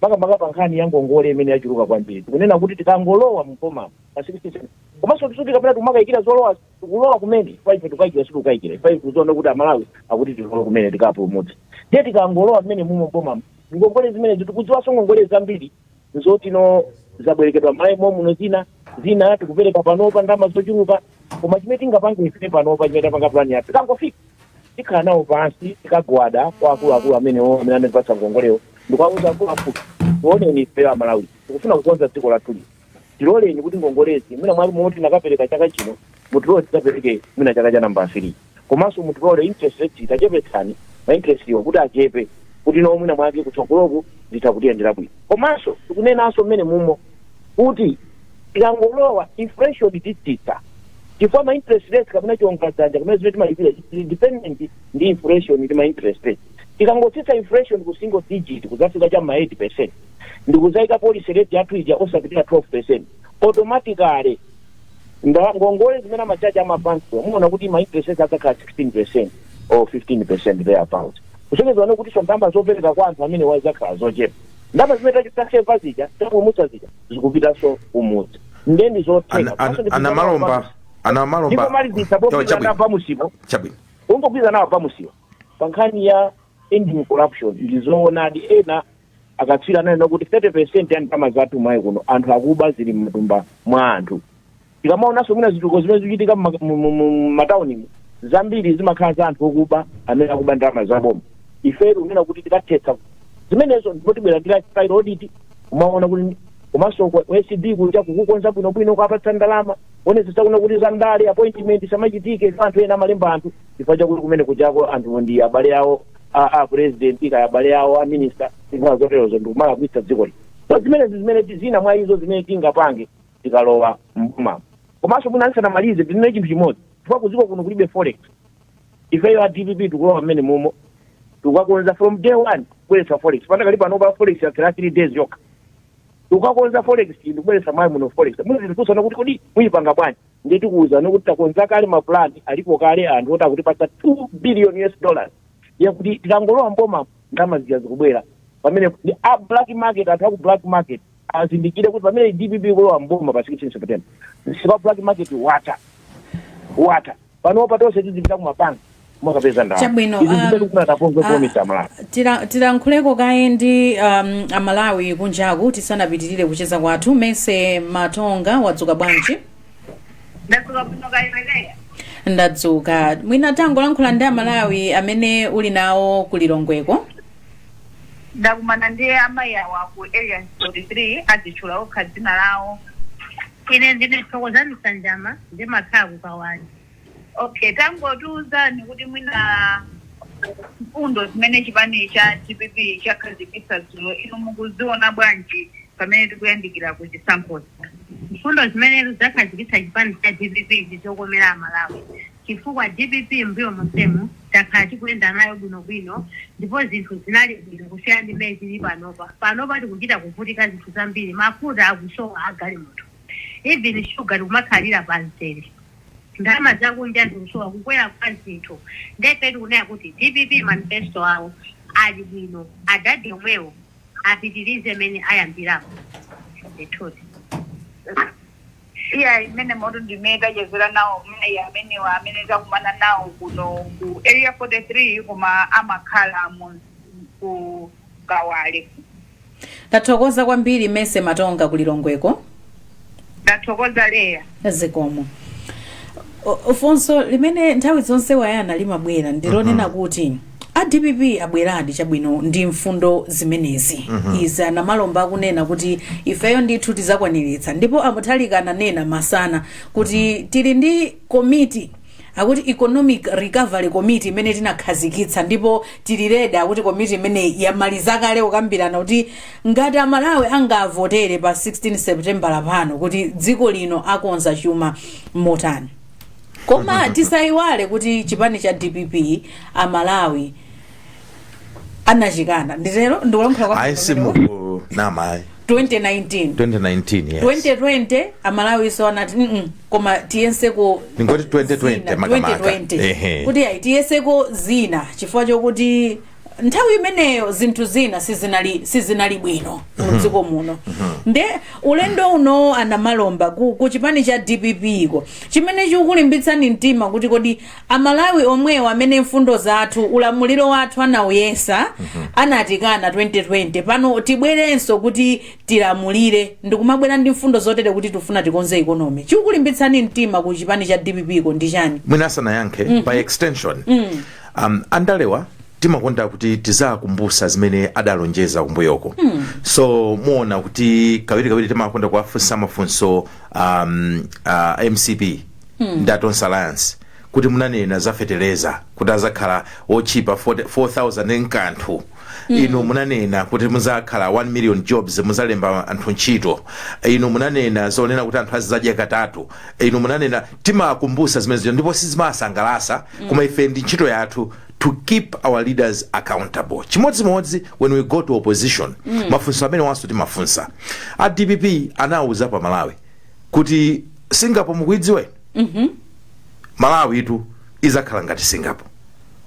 makamaka pa nkhani ya ngongole imene yachuluka kwambiri. Tikunena kuti tikangolowa m'bomamu pa 16 September, komanso kuti tisati kapena timakayikira zolowa, tikulowa kumene chifukwa ife tikukayikira, sitikukayikira chifukwa ife tikudziona kuti Amalawi akuti tilowe kumene tikawapulumutse. Ndiye tikangolowa m'menemumo m'bomamu, ngongole zimenezi tikudziwanso ngongole zambiri n'zotino zabwerekedwa m'Malawi mommuno zina, zina tikupereka panopa ndalama zochuluka. Koma chimene tingapange ife panopa, chimene tapanga pulani yathu, tikangofika. tikhala nawo pansi tikagwada kwa akuluakulu amenewo amene anatipatsa ngongolewo ndikuwauza akuluakulu tioneni ifeyo amalawi tikufuna kukonza dziko lathuli tiloleni kuti ngongolezi mwina m'malo moti tinakapereka chaka chino mutilole tidzapereke mwina chaka cha namba 3 komanso mutilole interest rate tichepetseni ma interest-wo kuti achepe kuti no mwina mwake kutsogoloku zitha kutiyendera bwino komanso tikunenanso mmene mumo kuti tikangolowa inflation titsitsa chifukwa ma interest rates kapena chiwongoladzanja kapena zimene timalipira zili dependent ndi inflation ndi ma interest rates tikangotsitsa inflation ku single digit kudzafika cha ma 8 percent ndikudzayika policy rate yathu ija osapitira 12 percent automatically nda- ngongole zimene amachaji amabankiwa muona kuti ma interest rates adzakhala 16 percent or 15 percent thereabout kusonyeza kuti ndalama zopereka kwa anthu amenewa zizakhala zochepa ndalama zimene taseva zija tapulumutsa zija zikupitanso kumudzi ndiye ndi zotheka Ana- ana- Komanso ndi anamalomba ndipo anamalomba malizitsa Yo, popitana chabwino pamusipo chabwino ungopitana nawo pamusipo pa nkhani ya ending corruption ndi zoonadi ena akatswiri ananena kuti 30 percent ya ndalama zathu mMalawi muno anthu akuba zili mmatumba mwa anthu tikamaonanso mwina zitukuko zimene zikuchitika mma- mu- mu- mu- m'mataunimu zambiri zimakhala za anthu okuba amene akuba ndalama za boma ife tikunena kuti tikathetsa zimenezo ndipo tibwera ndi lifestyle audit umaona kuti komanso ku ku acb kunja kukukonza bwinobwino kuwapatsa ndalama kuonetsetsa kuti za ndale appointment samachitike ife anthu ena amalemba anthu chifukwa chakuti kumene kujako anthu ndi abale awo a a president kaya abale awo a minister zina zoterozo ndikumalakwitsa dziko lino so zimenezi zimene ti- zina mwa izo zimene tingapange tikalowa mboma komanso mwina ndisanamalize ndinene chinthu chimodzi chifukwa kuziko kuno kulibe forex ifeyo a dpp tikulowa mmene mumo tikukakonza from day one kubweretsa forex panakali panopa forex yakwera three days yokha tikukakonza forex ndikubweretsa mMalawi muno forex muzitifunsa kuti kodi muyipanga bwanji ndiye tikuwuzani kuti takonza kale mapulani alipo kale anthu oti akutipatsa two billion us dollars yakuti tikangolowa mboma ndalama zija zikubwera pamene ndi a black market anthu aku black market azindikire kuti pamene dpp ikulowa mboma pa 16 september msika wa black market watha watha panopa tonse tizipita kumabanki kukapeza ndalama Chabwino, izi um, zimene tikufuna taponge ah, pomisa malawi Tira- tilankhuleko kaye ndi um, amalawi kunjaku tisanapitirire kucheza kwathu Mercy Matonga wadzuka bwanji ndadzuka bwino kaya iwe Leya ndadzuka mwina tangolankhula ndi amalawi amene uli nawo kulilongweko ndakumana ndi amayi awa ku area 43 adzitchula okha dzina lawo ine ndine thokozani sanjama ndimakhala ku kawale okay tangotiuzani kuti mwina mfundo zimene chipani cha dpp chakhazikitsa dzulo inu mukuziona bwanji pamene tikuyandikira ku chisankhozi mfundo zimene zakhazikitsa chipani cha dpp ndizokomera amalawi chifukwa dpp mmbuyo monsemu takhala tikuyenda nayo bwino bwino ndipo zinthu zinali bwino kusiyana ndi mmene zilili panopa. Panopa tikuchita kuvutika zinthu zambiri mafuta akusowa a galimoto even sugar tikumakhalira pa mzere ndalama zakunja zikusowa kukwera kwa zinthu nde ife tikunena kuti dpp manifesto awo ali bwino adadi omwewo apitilize mmene ayambiramu ndithudi. Iyayi, mmenemotu ndimmene tachezera nawo mayi amenewa amene takumana nawo kuno ku Area 43 koma amakhala ku Kawale. Tathokoza kwambiri Mercy Matonga ku Lilongweko. Ndathokoza Leya. zikomo O- funso limene nthawi zonse wayana limabwera ndilonena kuti a dpp abweradi chabwino ndi mfundo zimenezi izi anamalomba akunena kuti ifeyo ndithu tizakwaniritsa ndipo amutharika ananena masana kuti tili ndi komiti akuti economic recovery committee imene tinakhazikitsa ndipo tili redi kuti komiti imene yamaliza kale kukambirana kuti ngati amalawi angawavotere pa 16 september pano kuti dziko lino akonza chuma motani koma tisayiwale kuti chipani cha dpp amalawi anachikana nditero ndikulankhula kwa ayi simuku namayi 2019 2019 yes 2020 amalawi so anati mm koma tiyeseko Ndingoti 2020 zina, makamaka. 2020. Ehe. kuti ayi tiyeseko zina chifukwa chokuti nthawi imeneyo zinthu zina sizinali bwino mdziko muno nde ulendo uno anamalomba ku, ku chipani cha dpp iko chimene chikulimbitsani mtima kuti kodi amalawi omwewo amene mfundo zathu ulamuliro wathu anauyesa anatikana 2020 pano tibwerenso kuti tilamulire ndikumabwera ndi mfundo zotere kuti tifuna tikonze economy chikulimbitsani mtima ku chipani cha dpp iko ndi chani mwina asanayankhe by extension um, andalewa timakonda kuti tiziwakumbusa zimene adalonjeza kumbuyoko mm. so muona kuti kawirikawiri timakonda kuwafunsa mafunso um, uh, mcp mm. ndi a tonse alliance kuti munanena za feteleza kuti azakhala otchipa 4000 nkanthu mm. inu munanena kuti kuzakhala 1 million jobs muzalemba anthu ntchito inu munanena zonena kuti anthu azizadya katatu inu munanena timakumbusa zimene zija ndipo sizimasangalasa koma ife ndi ntchito yathu to keep our leaders accountable chimodzimodzi when we go to opposition mafunso amenewanso timafunsa a dpp anawuza amalawi kuti singapore mukuidziwa inu malawitu izakhala ngati singapore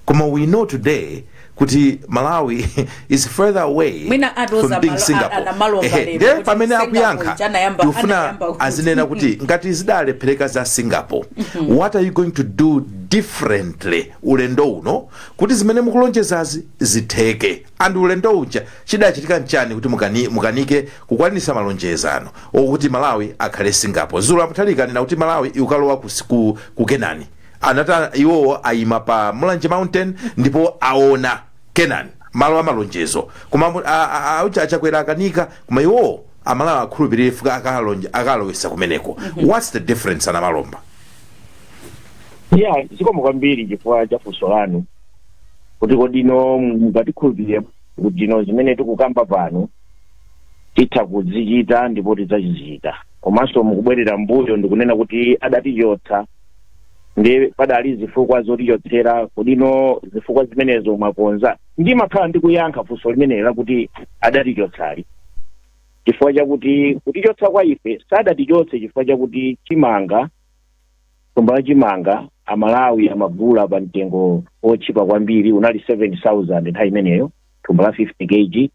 koma we know today kuti malawi is further away mwina atoza from being malo- a- singapore anamalomba Ehe, lero ndiye kuti pamene Singapore akuyankha ija anayamba- tikufuna anayamba kuti- azinena kuti ngati zidalephereka za singapore what are you going to do differently ulendo uno kuti zimene mukulonjezazi zitheke and ulendo uja chidachitika nchani kuti mukani- mukanike kukwanisa malonjezano okuti malawi akhale singapore dzulo amutharika anena kuti malawi ikalowa ku, ku, ku kenani anati a- iwowo ayima pa mulanje mountain ndipo aona kenani malo amalonjezo koma mu- a- a- a- auja achakwera akanika koma iwowo amalawi akhulupirire fuka akalonje- akalowesa kumeneko what's the difference anamalomba ya zikomo kwambiri chifukwa cha funso lanu kuti kodi inu mungatikhulupirire kuti inu zimene tikukamba pano titha kuzichita ndipo tidzazichita komanso mukubwerera mbuyo ndikunena kuti adatichotsa ndi padali zifukwa zotichotsera kodi no zifukwa zimenezo mwakonza ndimakhala ndikuyankha funso limeneli lakuti adatichotsali chifukwa chakuti kutichotsa kwa ife sadatichotse chifukwa chakuti chimanga thumba la chimanga amalawi amagula pa mtengo otchipa kwambiri unali 7000 nthawi imeneyo thumba la 50 kg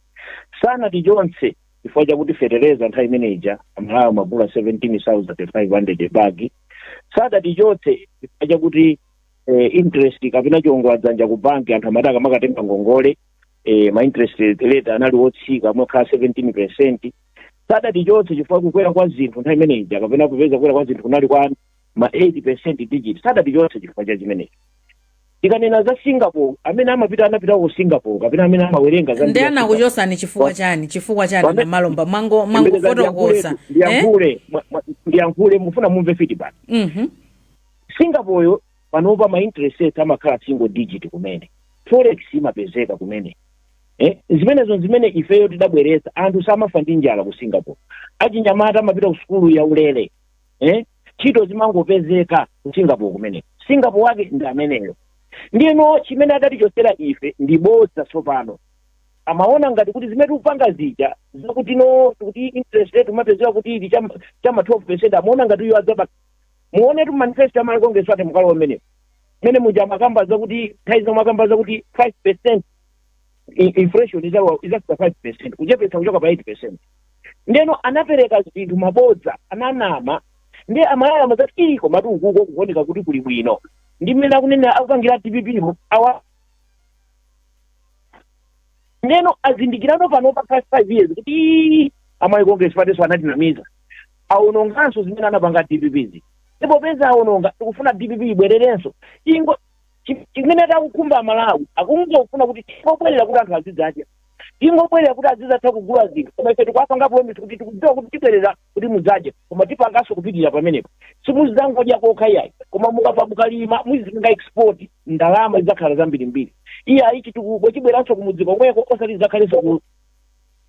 sanatichotse chifukwa chakuti fetereza nthawi imeneja amalawi amagula 17500 bagi sadatichotse chifukwa chakuti eh, interest kapena chiongola dzanja ku banki anthu amati akamakatenga ngongole eh, ma interest rate anali otsika amakhala 17 percent sadatichotse chifukwa kukwera kwa zinthu nthawi imeneja kapena kupeza kukwera kwa zinthu kunali kwa ma 8 percent digit sadatichotse chifukwa cha chimenechi tikanena za singapore amene amapita anapitako ku singapore kapena amene amawerenga za ndiye anakuchotsani chifukwa Wa- chani chifukwa chani Wame- namalomba mwango Ndiyankhule- mwangofotokoza eh? ndiyankhule mwa- mwa- ndiyankhule mufuna mumve feedback Mhm. singapore panopa ma interest rate amakhala single digit kumene forex imapezeka kumene eh? zimenezo zimene ifeyo tidabweretsa anthu samafa ndi njala ku singapore achinyamata amapita ku sukulu ya ulere eh? ntchito zimangopezeka ku singapore kumene singapore wake ndi ameneyo ndiyeno chimene adatichotsera ife ndi bodza tsopano amaona ngati kuti zimene tikupanga zija zakuti no kuti interest rate umapezeka kuti ili cha ma 12 percent amaona ngati uyo adzapa muonetu manifesto a malawi congress ake mukalo umenewo mmene muja amakamba zakuti nthawi zina amakamba zakuti 5 percent i- inflation izawa- izafika 5 percent kuchepetsa kuchoka pa 8 percent ndeno anapereka zinthu mabodza ananama ndiye amalawi amazati ii komatu ukuko kukuoneka kuti kuli bwino ndi mmene akunena akupangira dpp mo awa ndeno azindikirano pano pa five years kuti ii a malawi congress partynso anatinamiza awononganso zimene anapanga dpp zi ndi popeza awononga tikufuna dpp ibwererenso ingo Chi- chimene atakukhumba amalawi akungofuna kuti tingobwerera kuti anthu azidzadya tingobwerera kuti azizatha kugula zinthu koma ife tikuwapanga promise kuti tikudziwa kuti tibwerera kuti mudzadye koma tipanganso kupitirira pamenepo simuzidzangodya kokha iyayi koma mukapa mukalima muzipanga export ndalama zidzakhala zambirimbiri iyayi chitukuko chibweranso kumudzi komweko osati zidzakhalenso ku-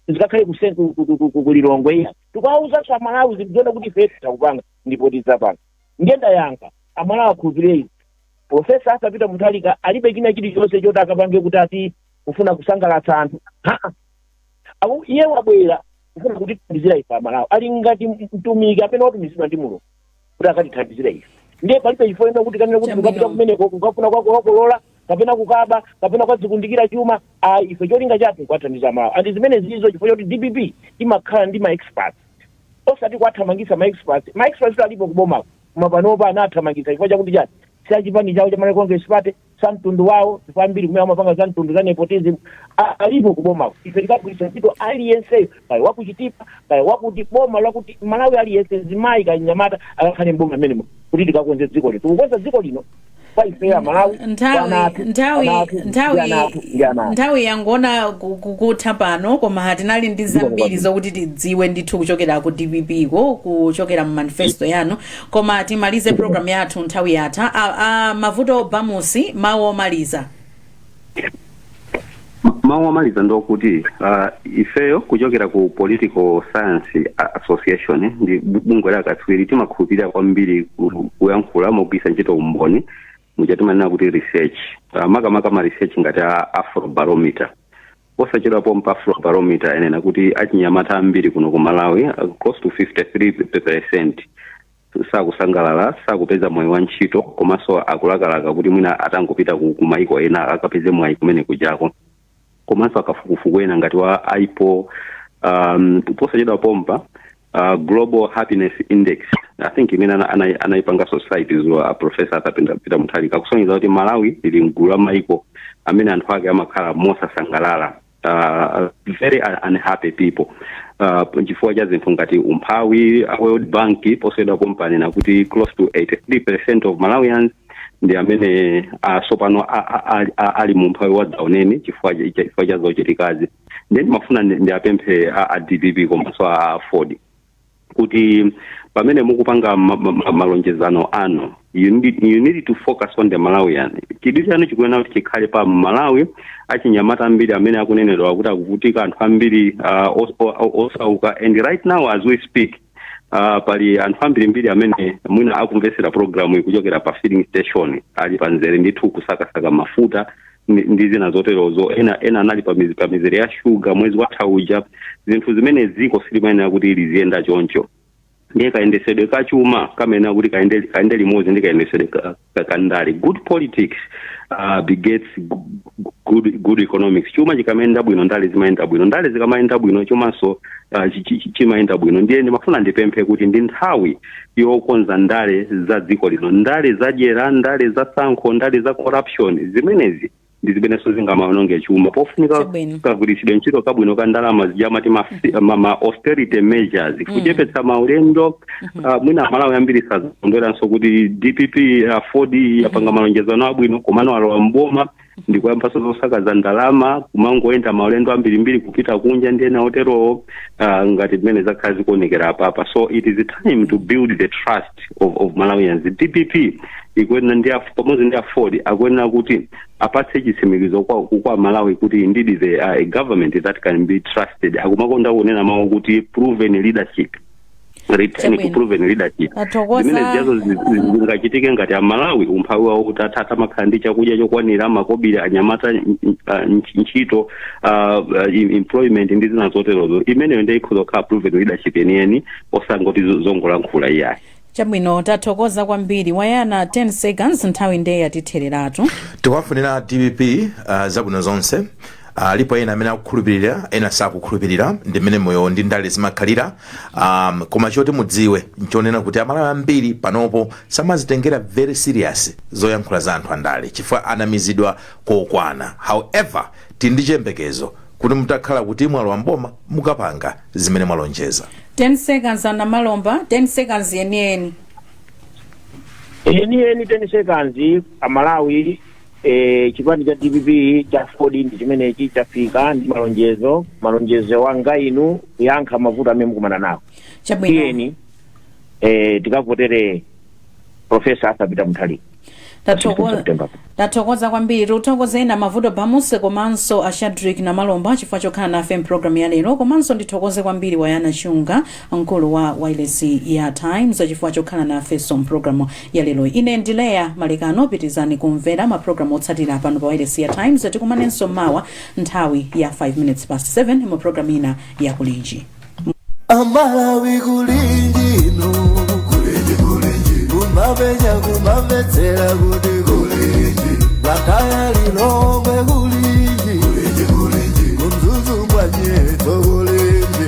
zikakhale kuse- ku- ku- ku- ku- kulilongwe iyayi tikuwawuzanso amalawi zikudziona kuti ife takupanga ndipo tidzapanga ndiye ndayankha amalawi akhulupirire izi profesa arthur peter mutharika alibe china chilichonse choti akapange kuti ati kufuna kusangalatsa anthu Ha-ah. Awu- iye wabwera kufuna kutithandizira ife amalawi ali ngati mtumiki amene watumizidwa ndi mulungu kuti akatithandizire ife ndiye palibe chifukwa china kuti kanena kuti Chabwino. mukapita kumeneko kukafuna kukakolola kapena kukaba kapena kukadzikundikira chuma ayi ife cholinga chathu nkuwathandiza amalawi and zimene zilizo chifukwa choti dpp imakhala ndi ma experts osati kuwathamangisa ma experts ma experts alipo kubomako Koma panopa anawathamangitsa chifukwa chakuti chani? Si a chipani chawo cha Malawi Congress Party, si a mtundu wawo chifukwa ambiri kumene amapanga za mtundu za nepotism a- alipo ku bomako. Ife tikagwiritsa ntchito aliyenseyo kaya wa ku Chitipa kaya wakuti boma lakuti Malawi aliyense mzimayi kaya mnyamata akakhale m'boma mmenemo kuti tikakonze dziko lino. Tikukonza dziko lino kwa ife a malawi nthawi yangoona ku- ku- kutha pano koma tinali ndi zambiri zokuti tidziwe ndithu kuchokera ku dpp ko kuchokera mu manifesto yanu koma timalize program yathu nthawi yatha a, a, mavuto bamusi mawu omaliza mawu omaliza ndi okuti uh, ifeyo kuchokera ku political science A- association eh, ndi bu- bungwe la akatswiri timakhulupirira kwambiri ku- kuyankhula mogwiritsa ntchito umboni muja timanena kuti research uh, makamaka ma research ngati a afrobarometer posachedwa pompa afrobarometer anena kuti achinyamata ambiri kuno ku malawi uh, close to 53 percent sakusangalala sakupeza mwayi wa ntchito komanso akulakalaka kuti mwina atangopita ku ku mayiko ena akapeze mwayi kumene kujako komanso akafukufuku ena ngati wa ipor um, posachedwa pompa uh, global happiness index i think imene ana- ana- anayipanga site awa a professor peter mutharika kusonyeza kuti malawi ili mgulu la mayiko amene anthu ake amakhala mosasangalala uh, very un- unhappy people uh, chifukwa cha zinthu ngati umphawi a world bank posachedwa pompa anena kuti close to 83 percent of malawians ndi amene uh, tsopano a- a- a- a- ali mu umphawi wadzaoneni chifukwa cha- chifukwa cha zochitikazi ndiye ndimafuna ndi- ndiwapemphe a, a dpp komanso a aford kuti pamene mukupanga ma- ma- ma- malonjezano anu you need, you need to focus on the malawian chidwi chanu chikuyenera kuti chikhale pa mmalawi achinyamata ambiri amene akunenedwa kuti akuvutika anthu ambiri uh, os- o- o- osauka and right now as we speak uh, pali anthu ambirimbiri amene mwina akumvetsera programu iyi kuchokera pa filling station ali pamzere ndithu kusakasaka mafuta ndi- ndi zina zoterozo ena ena anali pa miz- pa mizere ya shuga mwezi watha uja zinthu zimene dziko silimayenera kuti liziyenda choncho ndiye kayendesedwe ka chuma kamayenera kuti kayende kayende limodzi ndi kayendesedwe ka- ka- ka ndale good politics uh, begets gu- gu- good, good economics chuma chikamayenda bwino ndale zimayenda bwino ndale zikamayenda bwino chumanso uh, chi- chi- chi- chimayenda bwino ndiye ndimafuna ndipemphe kuti ndi nthawi yokonza ndale za dziko lino ndale zadyera ndale za tsankho ndale za corruption zimenezi ndi zimenenso zingamaononge chuma pofunika kagwiritsidwe ntchito kabwino ka ndalama zija amati ma, ma, ma austerity measures kuchepetsa maulendo uh, mwina amalawi ambiri sadzakondweranso kuti dpp aford yapanga malonjezano abwino komano alowa mboma ndikuyambanso zosakaza ndalama kumangoyenda maulendo ambirimbiri kupita kunja ndi zina zoterozo uh, ngati mmene zakhala zikuonekera apapa so it is a time to build the trust of, of malawians dpp ikuyenera ndi af- pamodzi ndi aford akuyenera kuti apatse chitsimikizo kwa, kwa amalawi kuti indeed they are a government that can be trusted akumakonda kunena mawu kuti proven leadership return to proven leadership Athokoza. zimene zijazo zi- zi- zingachitike ngati amalawi umphawi wawo utatha atamakhala ndi chakudya chokwanira makobiri anyamata n- n- ah, ntch- ntchito ah, ah, em- employment ndi zina zoterozo imeneyo ndiye ikhoza kukhala proven leadership yeniyeni osangoti zo- zongolankhula iyayi chabwino tathokoza kwambiri wayana 10 seconds nthawi ndiye yatithereratu tikuwafunira dpp uh, zabwino zonse alipo ena amene akukhulupirira ena sakukhulupirira ndi mmene moyo ndi ndale zimakhalira um, koma choti mudziwe nchonena kuti amalawi ambiri panopo samazitengera very serious zoyankhula za anthu andale chifukwa anamizidwa kokwana however tili ndi chiyembekezo kuti mutakhala kuti mwalowa mboma mukapanga zimene mwalonjeza 10 seconds a namalomba 10 seconds yeniyeni enieni 10 seconds amalawi e, chipani cha dpp cha aford ndi chimenechi chafika ndi malonjezo malonjezo anga inu kuyankha mavuto amene mukumana nawo chabwino tiyeni e, tikavotere profesa arthur peter mutharika Tatoko- September. tathokoza kwambiri tikuthokozeni a mavuto bamusi komanso a shadric namalomba chifukwa chokhala nafe mpulogalamu ya lero komanso ndithokoze kwambiri wayana chunga mkulu wa wailesi ya Times chifukwa chokhala nafenso mpulogalamu ya lero. Ine ndi Leya Malekano, pitirizani kumvera mapulogalamu otsatira pano pa wailesi ya Times. Tikumanenso mawa nthawi ya 5 minutes past 7 mu pulogalamu ina ya Kulinji. amalawi kulinji no kulinji kulinji kumapenya kumamvetsera kuti kulinji blantyre lilongwe kulinji kulinji kulinji kumzuzu kwa nyerere kulinji